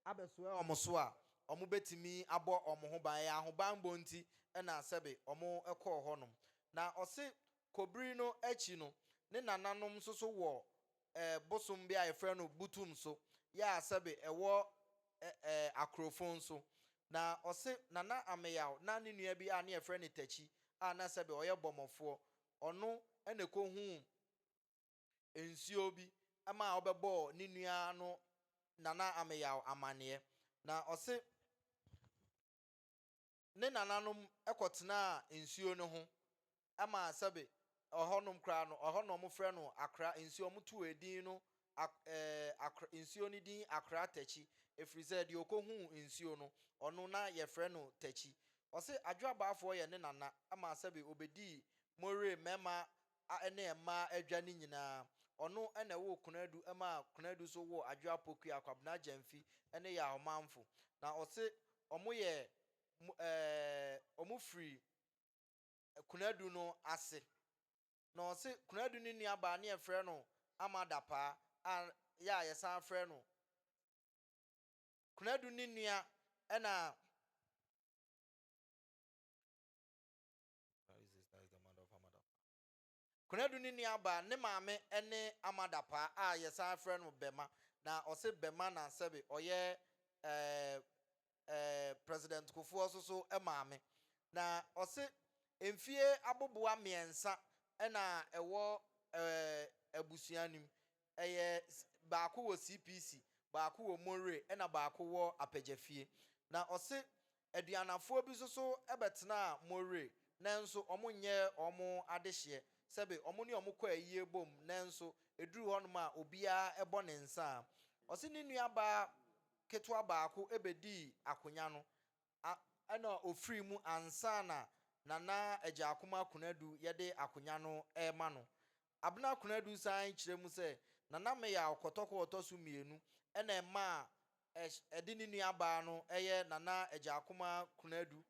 abɛsoɛ wɔn so a, wɔbɛtumi abɔ wɔn ho ban. Ɛyɛ ahobanbɔ nti na sɛbe wɔkɔɔ hɔnom. Na ɔse kɔbiri no akyi no, ne nananom nso so wɔ bosom bi a yɛfrɛ no Butum so, yɛ a sɛbe ɛwɔ Akorofon nso. Na ɔse Nana Ameyaw na ne nua bi a ne yɛfrɛ no Takyi a na sɛbe ɔyɛ bɔmmɔfoɔ, ɔno na ɛkɔhuu nsuo bi maa ɔbɛbɔɔ ne nua no Nana Ameyaw amaneɛ. Na ɔse ne nananom kɔtenaa nsuo no ho ma sɛbe ɛhɔnom koraa no, ɛhɔ na wɔfrɛ no Akra nsuo, wɔtoo edin no Ak eh, nsuo no din Akra Takyi, ɛfiri sɛ deɛ ɔkɔhuu nsuo no, ɔno na yɛfrɛ no Takyi. Ɔse Adwoabaafoɔ yɛ ne nana ma sɛbe ɔbɛdii Moree mmarima a ɛne mmaa adwa no nyinaa. Ɔno na ɛwoo Konadu maa Konadu nso woo Adwo Apokua, Kwabena Gyamfi ne Yaa Ɔmanfo. Na ɔse wɔyɛ ɛɛɛ wɔn firi Konadu no ase. Na ɔse Konadu no nuabaa ne yɛfrɛ no Ama Dapaa a yɛ a yɛsan frɛ no Konadu ne nua na Konadu ne nuabaa, ne maame ne Amadapaa a yɛsan frɛ no Bɛma, na ɔse Bɛma na sɛbe ɔyɛ eh eh President Kufuor nso so maame. Na ɔse mfie aboboa mmiɛnsa na ɛwɔ eh abusua no mu, ɛyɛ baako wɔ CPC, baako wɔ Moree na baako wɔ Apɛgyafie. Na ɔse Aduanafoɔ bi soso bɛtenaa Moree nanso wɔn nyɛɛ wɔn adehyeɛ sɛbe wɔn ne wɔn kɔ ayie bom nanso ɛduruu hɔnom a obiara bɔ ne nsa a ɔse ne nua baa ketewa baako bɛdii akonya no a ɛna ɔfirii mu ansa na Nana Agyaakoma Kunadu yɛde akonya no rema no Abena Konadu san kyerɛ mu sɛ, Nana Meyaw kɔtɔkɔ a ɔtɔ so mmienu na ɛmaa ɛde ne nuabaa no yɛ Nana Agyaakoma Konadu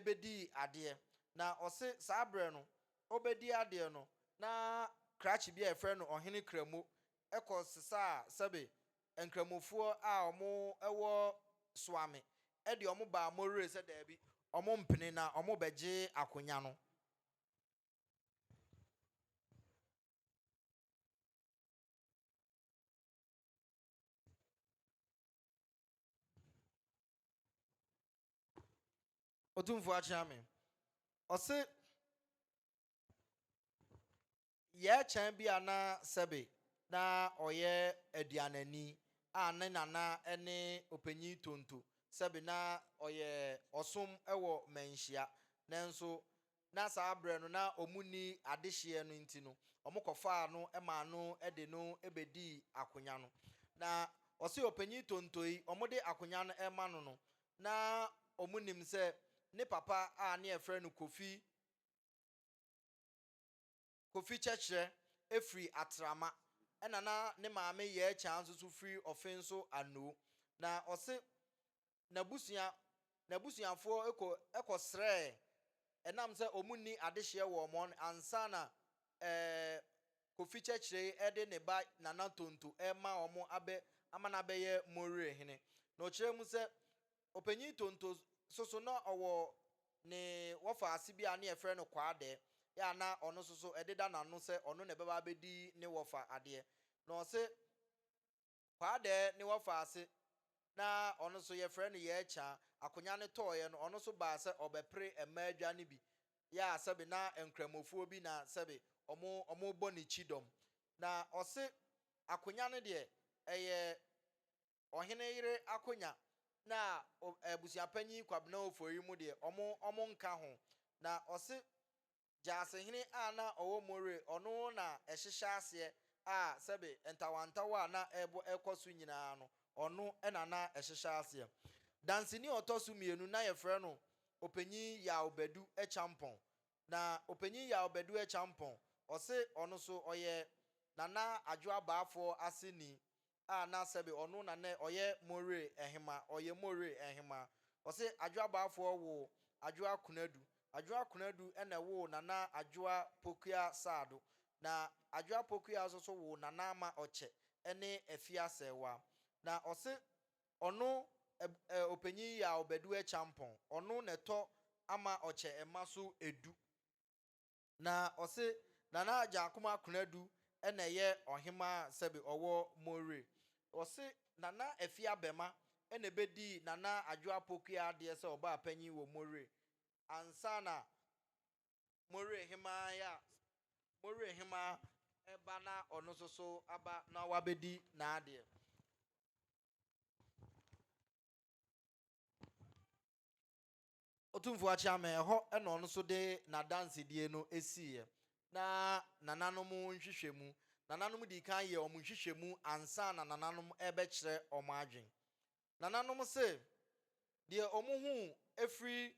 bɛdii adeɛ. Na ɔse saa berɛ no ɔrebɛdi adeɛ no na krakye bi a yɛfrɛ no Ɔhene Kramo kɔ sesaa sɛbe Nkramofoɔ a wɔwɔ Soame de wɔn baa Moree sɛ daabi wɔmpene na wɔrebɛgye akonya no. ɔtumfoɔ akyea me ɔse yɛkyɛn bi a na sɛbe na ɔyɛ aduanani a ne nana ne ɔpanyin tonto sɛbe na ɔyɛ ɔsom wɔ manhyia nanso Na saa berɛ no na wɔnni adehyeɛ no nti no, wɔkɔfaa no maa no de no bɛdii akonya no. Na ɔse ɔpanyin Tonto yi, wɔde akonya no rema no no, na wɔnim sɛ ne papa a ne yɛfrɛ no Kofi, Kofi Kyɛkyerɛ, firi Atrama, ɛna na ne maame Yɛɛkyaa nso so firi Ɔfenso Anoo. Na ɔse n'abusua n'abusuafoɔ kɔ kɔ srɛɛ ɛnam sɛ wɔn nni adehyeɛ wɔ wɔn ansa na ɛɛ Kofi Kyɛkyerɛi ɛde ne ba Nana Tonto ɛrema wɔn abɛ ama no abɛyɛ Mowere hene. Na ɔkyerɛɛ mu sɛ Ɔpanyin Tonto soso na ɔwɔ ne wɔfa ase bi a ne yɛfrɛ no Kwaadɛɛ yɛ a na ɔno soso ɛdeda n'ano sɛ ɔno na ɛbɛba abɛdi ne wɔfa adeɛ. Na ɔse Kwaadɛɛ ne wɔfaa ase na ɔno nso yɛfrɛ no Yɛɛkyaa. Akonya no tɔɔeɛ no, ɔno nso baa sɛ ɔbɛpere mmaa adwa no bi. Yɛ a sɛbe na Nkramofoɔ bi na sɛbe wɔn rebɔ ne kyidɔm. Na ɔse Akonya no deɛ ɛyɛ ɔhene yere Akonya na abusuapanyin Kwabena Ofori mu deɛ wɔn nka ho. Na ɔse Gyasehene a na ɔwɔ Moreh, ɔno na ɛhyehyɛ aseɛ a sɛbe ntawantawa a na ɛbɔ ɛkɔ so nyinaa no, ɔno na na ɛhyehyɛ aseɛ. Danseni a ɔtɔ so mmienu, na yɛfrɛ no Ɔpanyin Yaw Badu Akyampɔn. Na Ɔpanyin Yaw Badu Akyampɔn, ɔse ɔno nso ɔyɛ Nana Adwo Abaafoɔ aseni a na sɛbe ɔno na nɛ ɔyɛ Moore Ɛhema, ɔyɛ Moore Ɛhema. Ɔse Adwoa Baafoɔ woo Adwoa Konadu. Adwoa Konadu na ɛwoo Nana Adwoa Pokua Saado. Na Adwoa Pokua nso so woo Nana Ama Ɔkyɛ ne Afia Sɛɛwa. Na ɔse ɔno ɛb Opanyin Yaw Bɛduɛ Kyampɔn, ɔno na ɛtɔ Ama Ɔkyɛ mma so ɛdu. Na ɔse Nana Agyaakoma Konadu na ɛyɛ ɔhemaa sɛbe ɔwɔ Mowere. Ɔse Nana Afie Abɛma na ɛbɛdii Nana Adwo Apokua adeɛ sɛ ɔbaa panyin wɔ Mowere ansa na Mowere hemaa ya Mowere hemaa ɛba na ɔno nso so aba na wabɛdi n'adeɛ. Otumfoɔ Akyeame, ɛhɔ na ɔno nso de n'adansedie no siiɛ, na nananom nhwehwɛmu. Nananom dii kan yɛɛ wɔn nhwehwɛmu ansa na nananom rebɛkyerɛ wɔn adwene. Nananom se, deɛ wɔhuu firi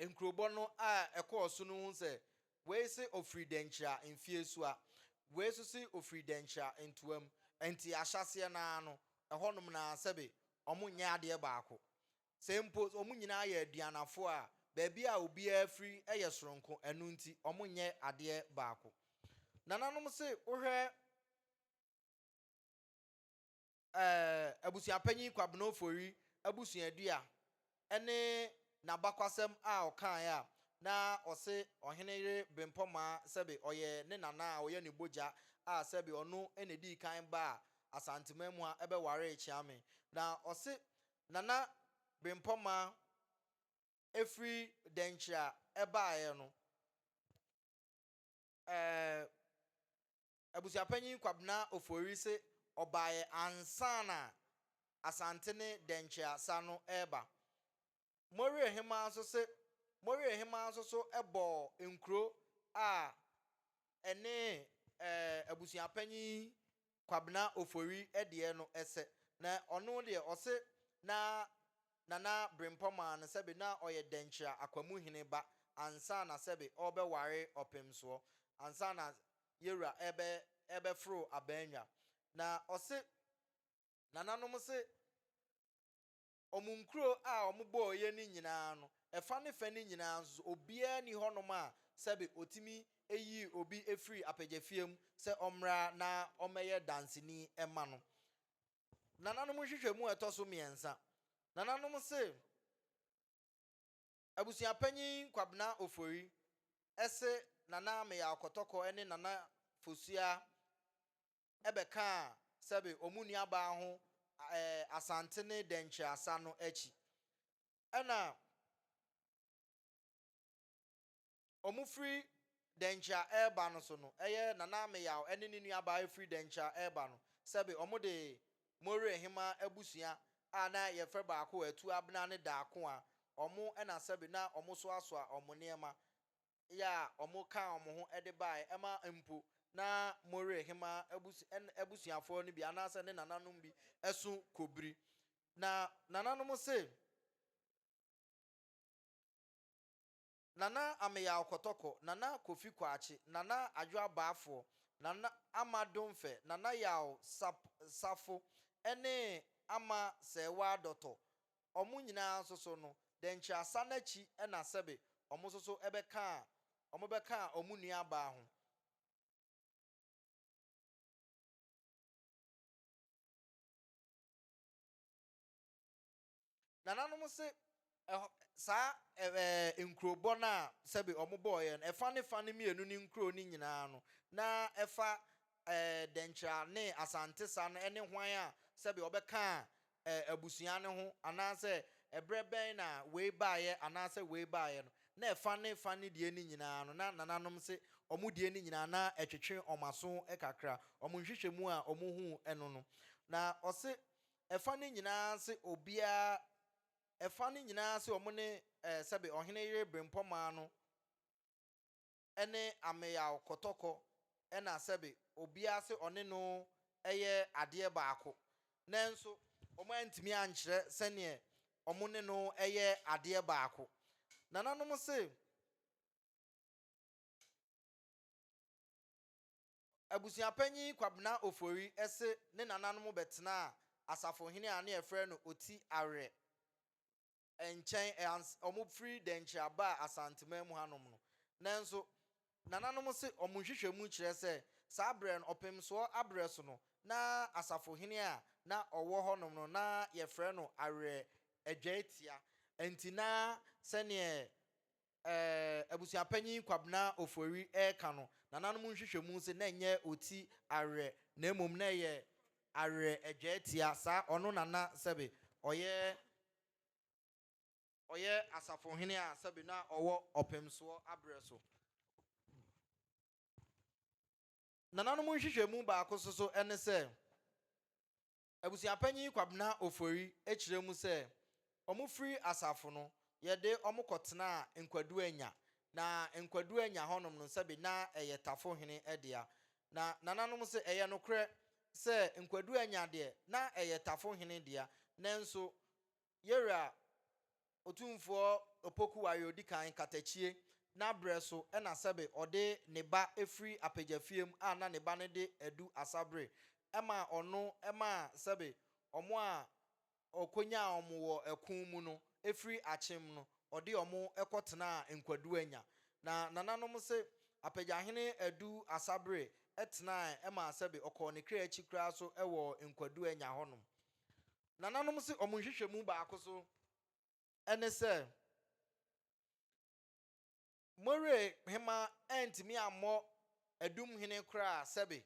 nkurobɔ no a ɛkɔɔ so no hu sɛ, wei se ɔfiri Dankyira Mfeɛsua, wei nso se ɔfiri Dankyira Ntoam, ɛnti ahyɛaseɛ no ara no, ɛhɔnom no ara sɛbe wɔnyɛ adeɛ baako. Sɛ mpo wɔn nyinaa yɛ aduanafoɔ a, baabi a obiara firi yɛ soronko, ɛno nti wɔnyɛ adeɛ baako. Nananom se wohwɛ ɛɛ Abusuapanyin Kwabena Ofori abusuadua ne n'abakwasɛm a ɔkaeɛ a, na ɔse Ɔhene Yere Bempɔmaa sɛbe ɔyɛ ne nana a ɔyɛ ne bogya a sɛbe ɔno na ɛdii kan baa Asanteman mu a ɛbɛwaree Kyeame. Na ɔse Nana Bempɔ maa ɛfiri Dɛnkyire a ɛbaeɛ no, ɛɛ Abusuapanyin Kwabena Ofori se ɔbaeɛ ansa na Asante ne Dɛnkyire asa no reba. Morie Hemaa nso se Morie Hemaa nso so bɔɔ nkuro a ne abusua panyin Kwabena Ofori deɛ no sɛ, na ɔno deɛ ɔse na Nana Brempɔ maa no sɛbe na ɔyɛ Dɛnkyira Akwamuhene ba ansa na sɛbe ɔrebɛware Ɔpemsoɔ, ansa na Yewura rebɛforo Abannwa. Na ɔse Nananom se Wɔn nkuro a wɔbɔeɛ no nyinaa no, ɛfa ne fɛ no nyinaa nso so, obiara nni hɔnom a sɛbe ɔtumi yii obi firii apagyafie mu sɛ ɔmmra na ɔmmɛyɛ danseni mma no. Nananom nhwehwɛmu a ɛtɔ so mmiɛnsa, nananom se Abusuapanyin Kwabena Ofori se Nana Meyaaw Kɔtɔkɔ ne Nana Fosuaa bɛkaa sɛbe ɔmo nuabaa ho ɛɛ Asante ne Dɛnkyɛ asa no akyi. Ɛna ɔmo firi Dɛnkyɛ a ɛɛba no so no, ɛyɛ Nana Ameyaw ɛne ne nuabaa ɛfiri Dɛnkyɛ a ɛɛba no, sɛbe ɔmo de Morehemaa abusua a na yɛfrɛ baako Atuabena ne Daakoa, ɔmo ɛna sɛbe na ɔmo soasoa ɔmo nneɛma yɛ a wɔkaa wɔn ho de baeɛ ɛma mpo na Moreh hema abus ɛn abusuafoɔ no bi anaasɛ ne nananom bi so kɔbiri. Na nananom se, Nana Ameyaw Kɔtɔkɔ, Nana Kofi Kwaakye, Nana Adwo Abaafoɔ, Nana Ama Domfɛ, Nana Yaw Sap Safo ne Ama Sɛɛwaa Dɔtɔ wɔn nyinaa nso so no, dɛnkyerɛasa no akyi na sɛbe wɔn nso so bɛkaa wɔbɛkaa wɔn nuabaa ho. Nananom se ɛhɔ saa ɛɛ nkurobɔ no a sɛbe wɔbɔɔeɛ no, ɛfa ne fa no mmienu ne nkuro no nyinaa no, na ɛfa ɛɛ Dɛnkyira ne Asante sa no ne hwan a sɛbe wɔbɛka ɛɛ abusua no ho anaasɛ ɛberɛ bɛn na wei baeɛ anaasɛ wei baeɛ no, na ɛfa ne fa ne deɛ no nyinaa no, na nananom se wɔn deɛ no nyinaa na ɛtwetwe wɔn aso kakra, wɔn nhwehwɛmu a wɔhuu no no. Na ɔse ɛfa no nyinaa se obiara, ɛfa no nyinaa se wɔn ne ɛɛ sɛbe Ɔhene Yere Berempɔmaa no, ne ameyaw kɔtɔkɔ na sɛbe obiara se ɔne no yɛ adeɛ baako. Nanso wɔantumi ankyerɛ sɛdeɛ wɔne no yɛ adeɛ baako. Nananom se Abusuapanyin Kwabena Ofori se ne nananom bɛtenaa Asafohene a na yɛfrɛ no Oti Awerɛ. nkyɛn ans ɔmo firi Dɛnkyire aba Asanteman mu hanom no. Nanso, nananom se ɔmo nhwehwɛmu kyerɛ sɛ saa berɛ no, ɔpemsoɔ aberɛ so no, na asafohene a na ɔwɔ hɔnom no, na yɛfrɛ no Awerɛ Adwaitia. Nti na sɛdeɛ Abusuapanyin Kwabena Ofori reka no, nananom nhwehwɛmu se na ɛnyɛ oti awerɛ na mmom na ɛyɛ awerɛ adwaa tia saa ɔno nana sɛbe ɔyɛ ɔyɛ asafohene a sɛbe na ɔwɔ ɔpemsoɔ aberɛ so. Nananom nhwehwɛmu baako nso so ne sɛ, Abusuapanyin Kwabena Ofori kyerɛ mu sɛ, Wɔfiri asafo no, yɛde wɔn kɔtenaa Nkwaduanya. Na Nkwaduanya hɔnom no, sɛbe na ɛyɛ Tafo hene dea. Na nananom se ɛyɛ nokorɛ sɛ Nkwaduanya deɛ, na ɛyɛ Tafo hene dea, nanso Yere a Otumfoɔ Opoku ware odi kan katakyie na berɛ so na sɛbe ɔde ne ba firi apagyafie mu a na ne ba no de adu asa bere ma ɔno ma sɛbe wɔn a ɔkɔnyaa wɔn wɔ ɛko mu no firi akyem no ɔde wɔn kɔtenaa Nkwaduanya na nananom se Apagyahene Adu Asabere tenae ma sɛbe ɔkɔɔ ne kra akyi koraa so wɔ Nkwaduanya hɔnom. Nananom se wɔn nhwehwɛmu baako so ne sɛ, Mowerɛ hema antumi ammɔ Adum Hene koraa sɛbe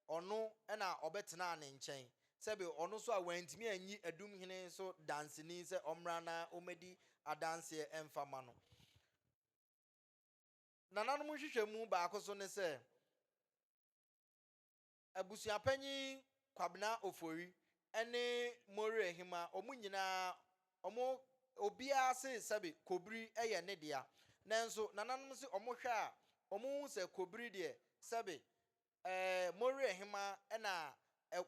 ɔno na ɔbɛtenaa ne nkyɛn, sɛbe ɔno nso a wantumi anyi Adum Hene so danseni sɛ ɔmmra na ɔmmɛdi adanseɛ mfa mma no. Nananom nhwehwɛmu baako so ne sɛ, Abusuapanyin Kwabena Ofori ne Morey Ahima, wɔn nyinaa wɔn obiara se sɛbe Kobiri yɛ ne dea. Nanso nananom se wɔhwɛ a, wɔhu sɛ Kobiri deɛ sɛbe ɛɛ Morey Ahima na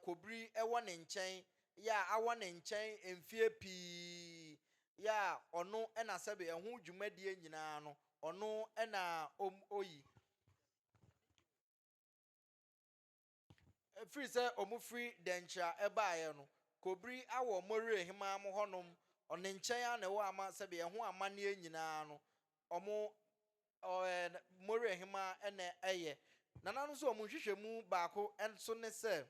Kobiri wɔ ne nkyɛn yɛ a awɔ ne nkyɛn mfeɛ pii yɛ a ɔno na sɛbe ɛho dwumadie nyinaa no ɔno na ɔyi. Ɛfiri sɛ wɔfiri dɛnkyerɛ a ɛbaeɛ no, kɔbiri awɔ Moriah hemmaa mo hɔnom, ɔno nkyɛn ara na ɛwɔ ama sɛdeɛ ɛho amanneɛ nyina ara no, wɔn, ɔɛ, Moriah hemmaa na ɛyɛ. Nananom nso wɔn nhwehwɛmu baako nso ne sɛ,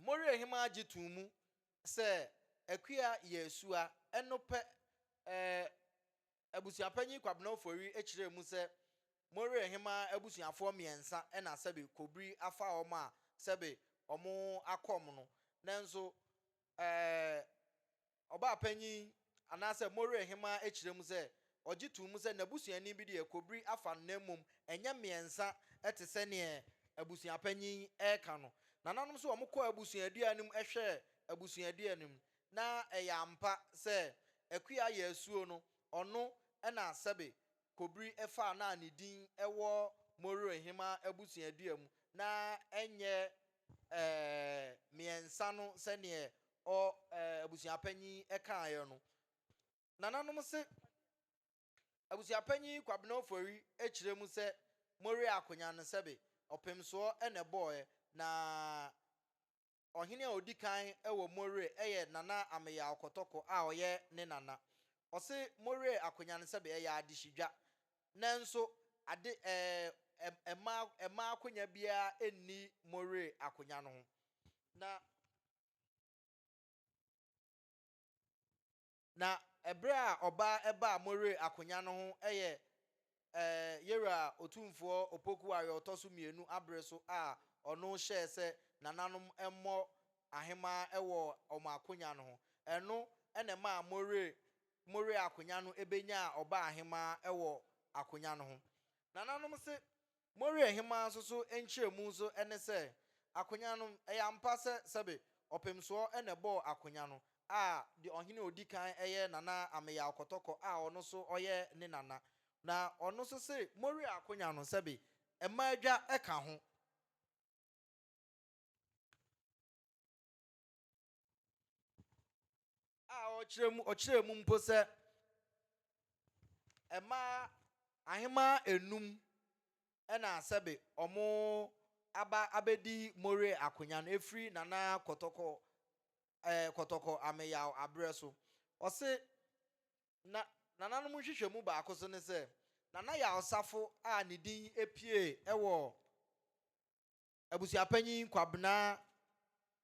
Morehema gye too mu sɛ Akua yɛ asua. Ɛno pɛ, eh, Abusuapanyin Kwabena Ofori kyerɛɛ mu sɛ Morehema abusuafoɔ mmiɛnsa na sɛbe kobiri afa wɔn a sɛbe wɔakɔm no. Nanso, eh, Ɔbaapanyin anaasɛ Moray hemmaa akyerɛ mu sɛ ɔgye too mu sɛ n'abusuani bi deɛ kobiri afa no na mmom ɛnyɛ mmiɛnsa te sɛ neɛ abusuapanyin yi reka no. Nananom nso wɔkɔɔ abusuadua no mu hwɛɛ abusuadua no mu na ɛyɛ ampa sɛ Akua Yasuo no ɔno na sɛbe kobiri faa no a ne din wɔ Moray hemmaa abusuadua mu na ɛnyɛ ɛɛ mmiɛnsa no sɛdeɛ Ɔ eh, abusuapanyin kaeɛ no, nananom se Abusuapanyin Kwabena Ofori kyerɛ mu sɛ Moriah Akonyan no sɛbe ɔpemsoɔ na ɛbɔɔɛ na Ɔhene a ɔdi kan wɔ Moriah yɛ Nana Ameyaw Kɔtɔkɔ a ɔyɛ ne nana. Ɔse Moriah Akonyan no sɛbe ɛyɛ adehyedwa nanso ade eh, ɛmma ɛmma akonya biara nni Moriah Akonyan ho na Na ɛberɛ a ɔbaa ɛbaa Moreh akonya no ho ɛyɛ ɛɛ Yeroah Otumfoɔ Opokuwa yɛ ɔtɔ so mmienu abere so a ɔno hyɛɛ sɛ nananom mmɔ ahemaa ɛwɔ wɔn akonya no ho. Ɛno ɛna ɛmaa Moreh Moreh akonya no ɛbɛnyaa ɔbaa ahemaa ɛwɔ akonya no ho. Nananom se Moriah hemmaa nso so nkyerɛmu nso ne sɛ, Akonya no, ɛyɛ ampa sɛ sɛbe ɔpemsoɔ na ɛbɔɔ akonya no, a deɛ ɔhene a ɔdi kan yɛ Nana Ameyaw Kɔtɔkɔ a ɔno nso ɔyɛ ne nana. Na ɔno nso se Moriah akonya no sɛbe mma adwa ka ho. a ɔkyerɛ mu ɔkyerɛ mu mpo sɛ mmaa ahemaa enum na sɛbe wɔn aba abɛdi More akonnwa no efiri Nana Kɔtɔkɔ ɛɛ Kɔtɔkɔ Ameyaw abrɛ so. Ɔse na nananom nhwehwɛmu baako so ne sɛ Nana Yaw Safo a ne din epie wɔ Abusuapanyin Kwabena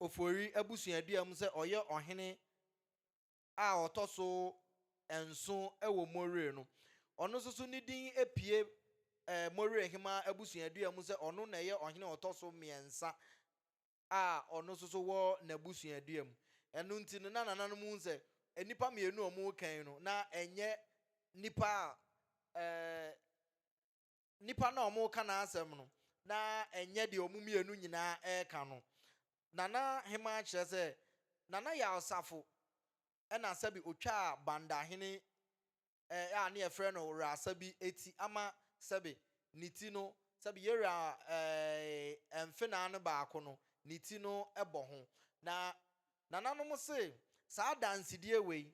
Ofori abusuadua mu sɛ ɔyɛ ɔhene a ɔtɔ so nson wɔ Moree no. Ɔno nso so ne din apue Moree Hemaa abusuadua mu sɛ ɔno na ɛyɛ ɔhene a ɔtɔ so mmiɛnsa a ɔno nso so wɔ n'abusuadua mu. Ɛno nti no, na nananom hu sɛ nnipa mmienu a wɔreka yi no, na ɛnyɛ nnipa a Nipa no a wɔreka n'asɛm no, na ɛnyɛ deɛ wɔn mmienu nyinaa reka no. Nana Hemaa kyerɛ sɛ, Nana Yaw Safo na sɛbe ɔtwaa Bandahene a ne yɛfrɛ no Wrasa bi ti ama sɛbe ne ti no, sɛbe Yera eh, mfenaa no baako no, ne ti no bɔ ho. Na Nananom se, saa adansedie wei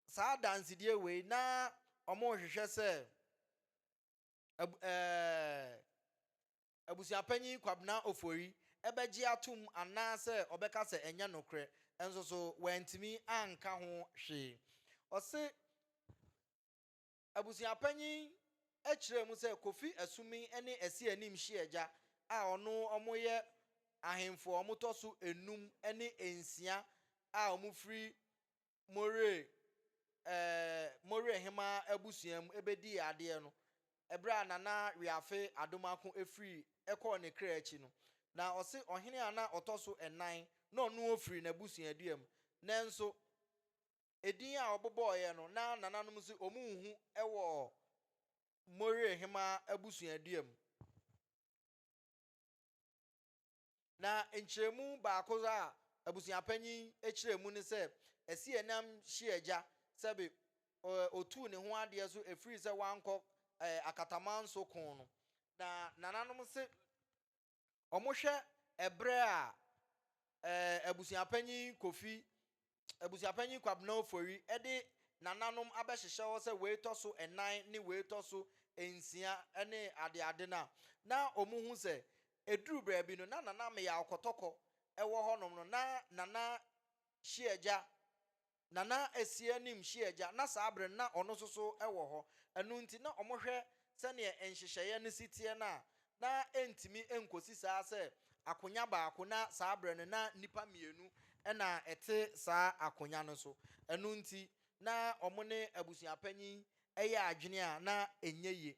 saa adansedie wei na wɔrehwehwɛ sɛ ab ɛɛ abusuapanyin Kwabena Ofori bɛgye atom anaasɛ ɔbɛka sɛ ɛnyɛ nokorɛ nso so wantumi anka ho hwee. Ɔse abusuapanyin kyerɛɛ mu sɛ Kofi Asuming ne Asi Anim Hyiagya a ɔno wɔyɛ ahemfo a wɔtɔ so nnum ne nsia a wɔfiri More eh, More hemaa abusua mu ɛbɛdii adeɛ no, ɛberɛ a Nana Weafe Adomako firii kɔɔ ne kra akyi no, na ɔse ɔhene a na ɔtɔ so nnan na ɔno ɔfiri n'abusuadua mu, nanso ɛdin a ɔbobɔeɛ no na nananom se wɔnhu wɔ More hemaa abusuadua mu. Na nkyerɛmu baako a abusuapanyin kyerɛ mu ne sɛ, Ɛseɛ nam hye agya sɛ be ɔtuu ne ho adeɛ so ɛfiri sɛ wankɔ akataman so ko no. Na nananom se wɔhwɛ ɛberɛ a abusuapanyin Kofi Abusuapanyin Kwabena Ofori de nananom abɛhyehyɛ hɔ sɛ wei tɔ so nnan ne wei tɔ so nsia ne adeade no a, na wɔhu sɛ ɛduru baabi no, na Nana Meyaw Kɔtɔkɔ wɔ hɔnom no, na Nana Hyiagya, Nana Asianim Hyiagya, na saa bere no na ɔno nso so wɔ hɔ. Ɛno nti, na wɔhwɛ sɛdeɛ nhyehyɛeɛ no si teɛ no a, na ɛntumi nkɔsi saa sɛ akonya baako, na saa berɛ no na nnipa mmienu na ɛte saa akonya no so. Ɛno nti, na wɔn ne abusuapanyin yɛ adwene a na ɛnyɛ yie.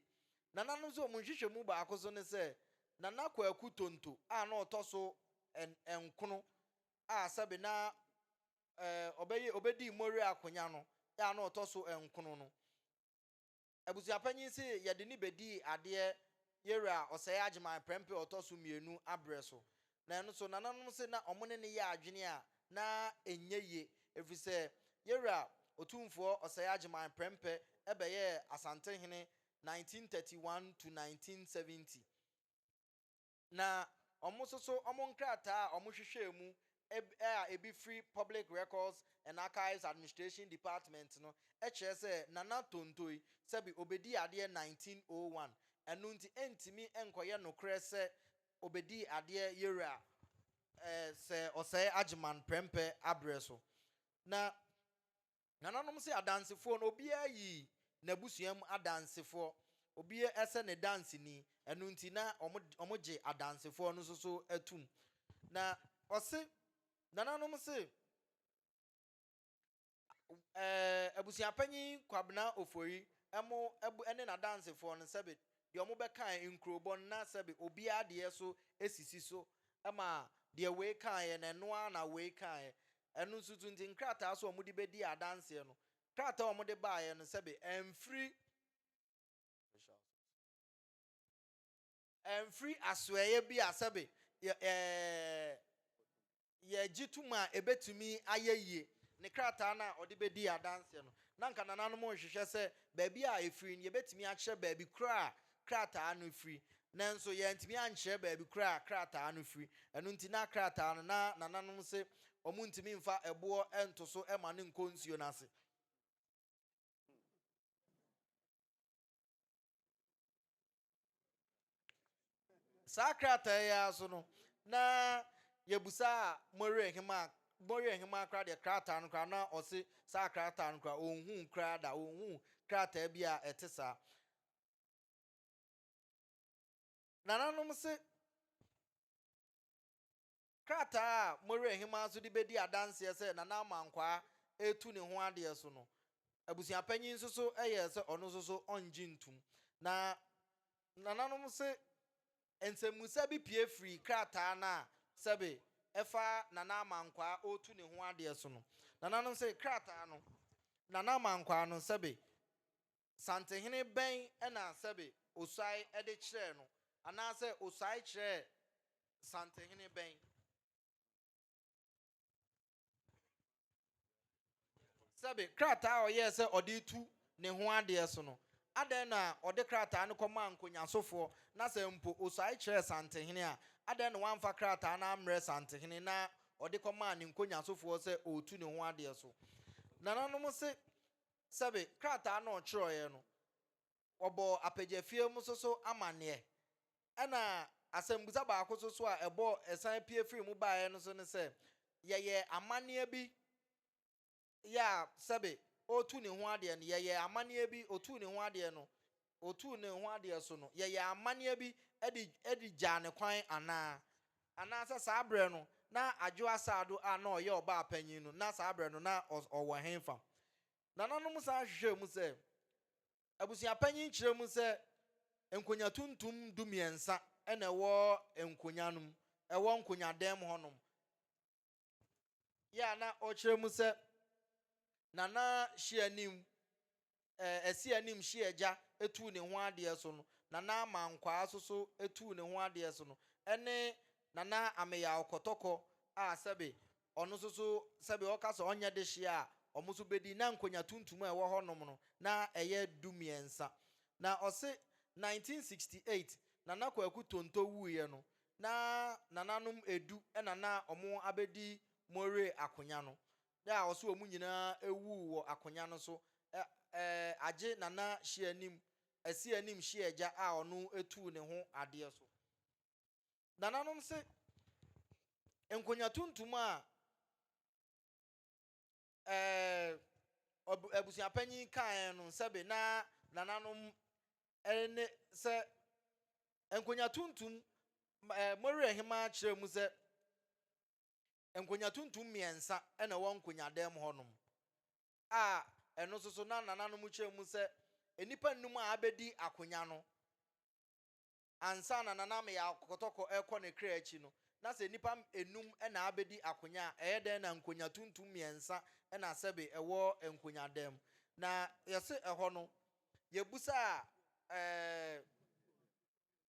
Nananom nso wɔn nhwehwɛmu baako nso ne sɛ, Nana Kwaku Tonto a na ɔtɔ so nkono a sɛbe na ɔbɛyɛ ɔbɛdii Moriah akonya no a na ɔtɔ so nkono no, Abusuapanyin se yɛde no bedii adeɛ Yera a ɔsɛee Agyeman prɛmpɛ a ɔtɔ so mmienu aberɛ so. Na ɛno nso, nananom se na wɔn ne no yɛ adwene a na ɛnyɛ yie, ɛfiri sɛ Yera Otumfoɔ ɔsɛee Agyeman prɛmpɛ bɛyɛɛ Asantehene 1931 to 1970. Na wɔn nso so wɔn nkrataa a wɔhwehwɛɛ mu a ebi firi Public Records and Archives Administration Department no kyerɛ sɛ Nana Tontoy sɛbe obedii adeɛ 1901, ɛno nti ɛntumi nkɔyɛ nokorɛ sɛ obedii adeɛ Yowura Sir Osei Agyeman prɛmpɛ aberɛ so. Na. Nananom sɛ adansefoɔ no, obiara yi n'abusua mu adansefoɔ. Obiara sɛ ne danseni. Ɛno nti na wɔgye adansefoɔ no nso so tom. Na ɔse, nananom se, Abusuapanyin Kwabena Ofori mo ne n'adansefoɔ no sɛbe deɛ wɔbɛkae nkurobɔ no na sɛbe obiara deɛ nso sisi so ma deɛ wei kaeɛ no, ɛno ara na wei kaeɛ. Ɛno nso so nti, nkrataa so a wɔde bedii adanseɛ no, krataa a wɔde baeɛ no sɛbe ɛmfiri ɛmfiri asoɛeɛ bi a sɛbe yɛ ɛɛ yɛgye tom a ebetumi ayɛ yie. Ne krataa no a ɔde bedii adanseɛ no, na nka nananom rehwehwɛ sɛ baabi a efiri no yɛbetumi akyerɛ baabi koro a krataa no firi, nanso yɛantumi ankyerɛ baabi korɔ a krataa no firi. Ɛno nti na krataa no, na nananom se wɔntumi mfa ɛboɔ nto so ma no nkɔ nsuo no ase. Saa krataa yi ara so no, na yɛbusaa Morier Hemaa, Morier Hemaa koraa deɛ krataa no koraa, na ɔse saa krataa no koraa, ɔnhuu koraa da, ɔnhuu krataa bi a ɛte saa. Nananom se, Krataa a Mowerɛhema nso de bedi adanseɛ sɛ Nana Amankwaa retu ne ho adeɛ so no, abusuapanyin nso so yɛɛ sɛ ɔno nso so ɔnngye ntum. Na Nananom se nsɛmmusa bi pue firii krataa no a sɛbe ɛfa Nana Amankwaa ɔretu ne ho adeɛ so no. Nananom se krataa no Nana Amankwaa no sɛbe Santehene bɛn na sɛbe Osuae de kyerɛɛ no, anaasɛ Osuae kyerɛɛ santehene bɛn? Sɛbe, krataa a ɔyɛɛ sɛ ɔde retu ne ho adeɛ so no, adɛn na ɔde krataa no kɔmaa nkonyasofoɔ, na sɛ mpo Osuae kyerɛɛ santehene a, adɛn na wamfa krataa no ammrɛ santehene na ɔde kɔmaa ne nkonyasofoɔ sɛ ɔretu ne ho adeɛ so? Nananom se sɛbe krataa na ɔkyerɛwee no, wɔbɔɔ Apegyafie mu so so amanneɛ. Ɛna asɛmbusa baako so so a ɛbɔɔ ɛsan pue firi mu baeɛ no so ne sɛ, Yɛyɛɛ amanneɛ bi yɛ a sɛbe ɔretu ne ho adeɛ no, yɛyɛɛ amanneɛ bi ɔtuu ne ho adeɛ no, otuu ne ho adeɛ so no, yɛyɛɛ amanneɛ bi de de gyaa no kwan anaa? Anaasɛ saa berɛ no, na Adwo Asado a na ɔyɛ ɔbaa panyin no, na saa berɛ no na ɔwɔ hefa? Nananom san hwehwɛɛ mu sɛ, Abusuapanyin kyerɛ mu sɛ nkonwa tuntum dumiɛnsa na ɛwɔ nkonwa no mu, ɛwɔ nkonwa dan mu hɔnom. yɛ a na ɔkyerɛ mu sɛ Nana Hyianim, eh, Asianim Hyiagya tuu ne ho adeɛ so no, Nana Amankwaa nso so tuu ne ho adeɛ so no, ɛne Nana Ameyaw Kɔtɔkɔ a sɛbe ɔno nso so sɛbe ɔka sɛ ɔnyɛ dehyeɛ a wɔn nso bɛdi na nkonya tuntum a ɛwɔ hɔnom no na ɛyɛ du mmiɛnsa. Na ɔse 1968 Nana Kwaku Tonto wuiɛ no, na nananom edu na na wɔabedi Moree akonya no. Bere a ɔse wɔn nyinaa wuu wɔ akonya no so, agye Nana Hyeanim, Asianim Hyeagya a ɔno tuu ne ho adeɛ so. Nananom se nkonya tuntum a. ɛɛ, abusuapanyin kaeɛ no, sɛbe na nananom ne sɛ nkonya tuntum ɛɛ Moreh hemaa kyerɛɛ mu sɛ nkonya tuntum mmiɛnsa na ɛwɔ nkonyadan mu hɔnom a ɛno nso so na nananom kyerɛ mu sɛ nnipa nnum a abɛdi akonya no ansa na Nana Ameyɛ akɔtɔkɔ rekɔ ne kra akyi no, na sɛ nnipa nnum na abedi akonya a, ɛyɛ dɛn na nkonya tuntum mmiɛnsa na sɛbe ɛwɔ nkonyadan mu? Na yɛse ɛhɔ no, yɛbusaa eh,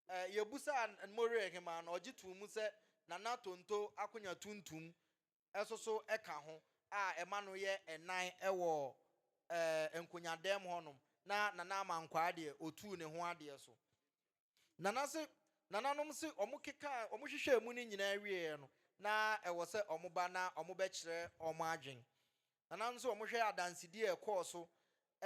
eh, yɛbusaa Nmorerehemaa no, ɔgye too mu sɛ Nana Tonto akonya tuntum nso so ka ho a ɛma no yɛ nnan wɔ nkonyadan mu hɔnom na Nana Amankwaa deɛ ɔtuu ne ho adeɛ so. Nana se Nananom se wɔkekaa wɔhwehwɛɛ mu no nyinaa wieeɛ no na ɛwɔ sɛ wɔba na wɔbɛkyerɛ wɔn adwene. Nananom sɛ wɔhwɛ adansedi a ɛkɔɔ so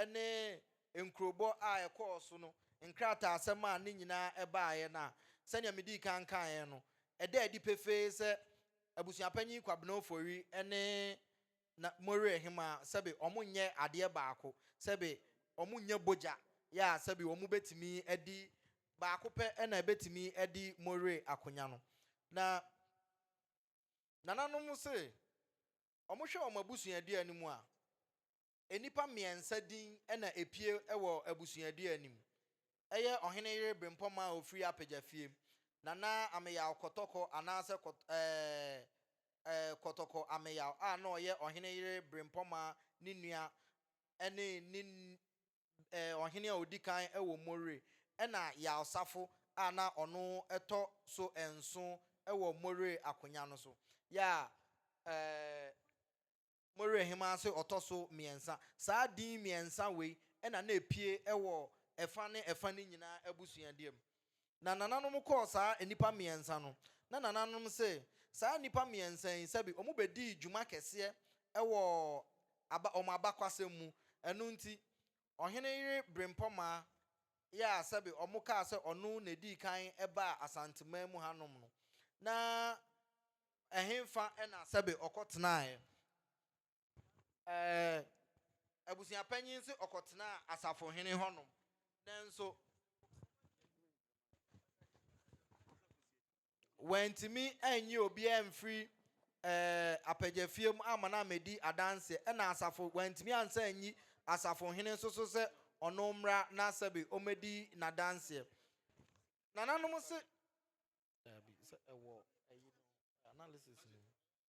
ne nkurobɔ a ɛkɔɔ so no nkrataasɛm a ne nyinaa baeɛ no a, sɛnea medii kan kaeɛ no, ɛda adi pefee sɛ Abusuapanyin Kwabena Ofori ne Na Moriah Hemaa sɛbe wɔnyɛ adeɛ baako, sɛbe wɔnyɛ bogya yɛ a sɛbe wɔbɛtumi adi, baako pɛ na ɛbɛtumi adi Moriah akonya no. Na Nananom se Wɔhwɛ wɔn abusuadua no mu a, nnipa mmiɛnsa din na epue wɔ abusuadua no mu. Ɛyɛ Ɔhene Yere Brempɔmaa a ɔfiri Apegyafie, Nana Ameyaw Kɔtɔkɔ anaasɛ Kɔt ɛɛ ɛɛ Kɔtɔkɔ Ameyaw a na ɔyɛ Ɔhene Yere Brempɔmaa ne nua ne ne ɛɛ ɔhene a odi kan wɔ More, ɛnna Yalsafo a na ɔno tɔ so nson wɔ More akonya no so. Yɛ a ɛɛ More hemmaa se ɔtɔ so mmiɛnsa. Saa din mmiɛnsa wei na na epue wɔ ɛfã ne ɛfã no nyinaa abusuadua mu. Na nananom kɔɔ saa nnipa mmiɛnsa no, na nananom se, Saa nnipa mmiɛnsa yi, sɛbe wɔbɛdii dwuma kɛseɛ wɔ aba, wɔn abakwasɛm mu, ɛno nti, ɔhene yere Berempɔmaa yɛ a sɛbe wɔkaa sɛ ɔno na ɛdii kan baa Asanteman mu hanom no, na ɛhefa na sɛbe ɔkɔtenaeɛ. Ɛɛ, abusua panyin se ɔkɔtenaa asafohene hɔnom, nanso wantumi anyi obiara amfiri ɛɛ apagyafie mu amma no ammɛdi adanseɛ, ɛna asafo wantumi ansa anyi asafohene nso so sɛ ɔno mmra na sɛbe ɔmmɛdi n'adanseɛ. Nananom se, daabi, sɛ ɛwɔ ɛyi no, analysis no mu.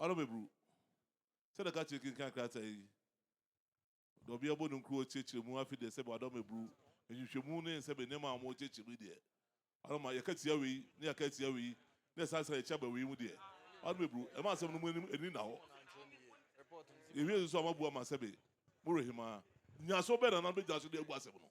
Ɔno meburu. Sɛ na ka kyerɛ kenkan krataa yi. Ɔde ɔbea bɔ ne nkuro ɔkyerɛkyerɛ mu afi deɛ sɛ ɔdɔ meburu. Nhwehwɛmu ne nsɛm nneɛma a wɔn kyerɛkyerɛ mu deɛ. Ɔno ma yɛka tia wei ne yɛaka tia wei ne yɛsan san yɛkyi aba wei mu deɛ. Ɔno meburu. Ɛma asɛm no mu anim ani nna hɔ. Yɛwie nso a moabua ma sɛbe morehemaa. Nyaso bɛn na na bɛgyina so de abu asɛm no.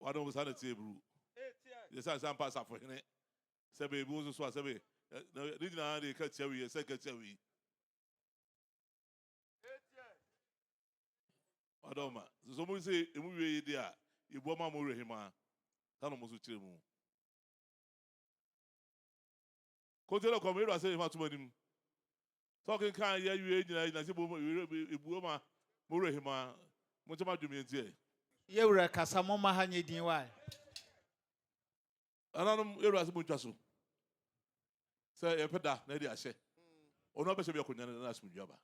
wadɔ mo saa na tie buru yɛ sɛ asɛ ampa asafo hene sɛ bɛ ebi wo nso so a sɛ bɛ ne nyinaa de ka tia wi yɛ sɛ ka tia wi wadɔ ma nso mo sɛ emu wie yi de a ebu ama mo wura hima ta no mo so kyerɛ mu Kɔntiɛnɛ kɔm yɛdɔ asɛ yɛfa toma nim sɛ ɔkenkan yɛ wie nyina yɛnyina sɛ bom ebuo ma mo werɛ hema mo nkyɛ ma dwom yɛ ntiɛ. Yɛwura kasa mo mma ha nyɛ din wai. Nananom yɛwura sɛ mo ntwa so sɛ yɛpɛ da na yɛde ahyɛ ɔno abɛhyɛ bi akɔnya ne asomdwe aba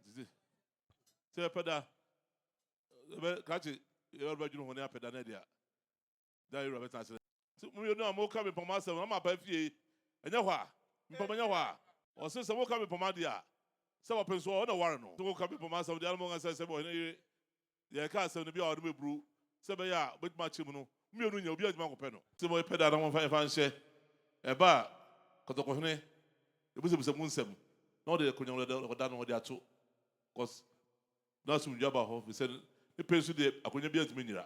nti sɛ yɛpɛ da yɛbɛ krakye yɛbɛdwene ho ne apɛ da na yɛde a da a Ewura bɛtena ase no. Sɛ mo mienu a moka mmepɔmma asɛm no ama aba fie yi, ɛnyɛ hɔ a? Mmepɔmma ɛnyɛ hɔ a? Ɔse sɛ moka mmepɔmma deɛ a, sɛ wɔpene so a, ɔno na ɔware no. Sɛ moka mmepɔmma asɛm deɛ a, na monka sɛ, sɛ ɔhene yere deɛ ɛka asɛm no bi a, ɔde bɛburu, sɛ ɛbɛyɛ a ɔbɛtumi akyɛ mu no, mo mienu nyɛ, obiara ntumi ankɔpɛ no. Sɛ mopɛ da a, na momfa ɛmfa nhyɛ. Ɛba a, kɔtɔkɔhene bɛbisabisa mo nsɛm, na ɔde akonyamu dada a ɔda no, ɔde ato kɔs na asomdwoeɛ aba hɔ, ɛfiri sɛ ne pɛ so deɛ, akonwa biara ntumi nnyera.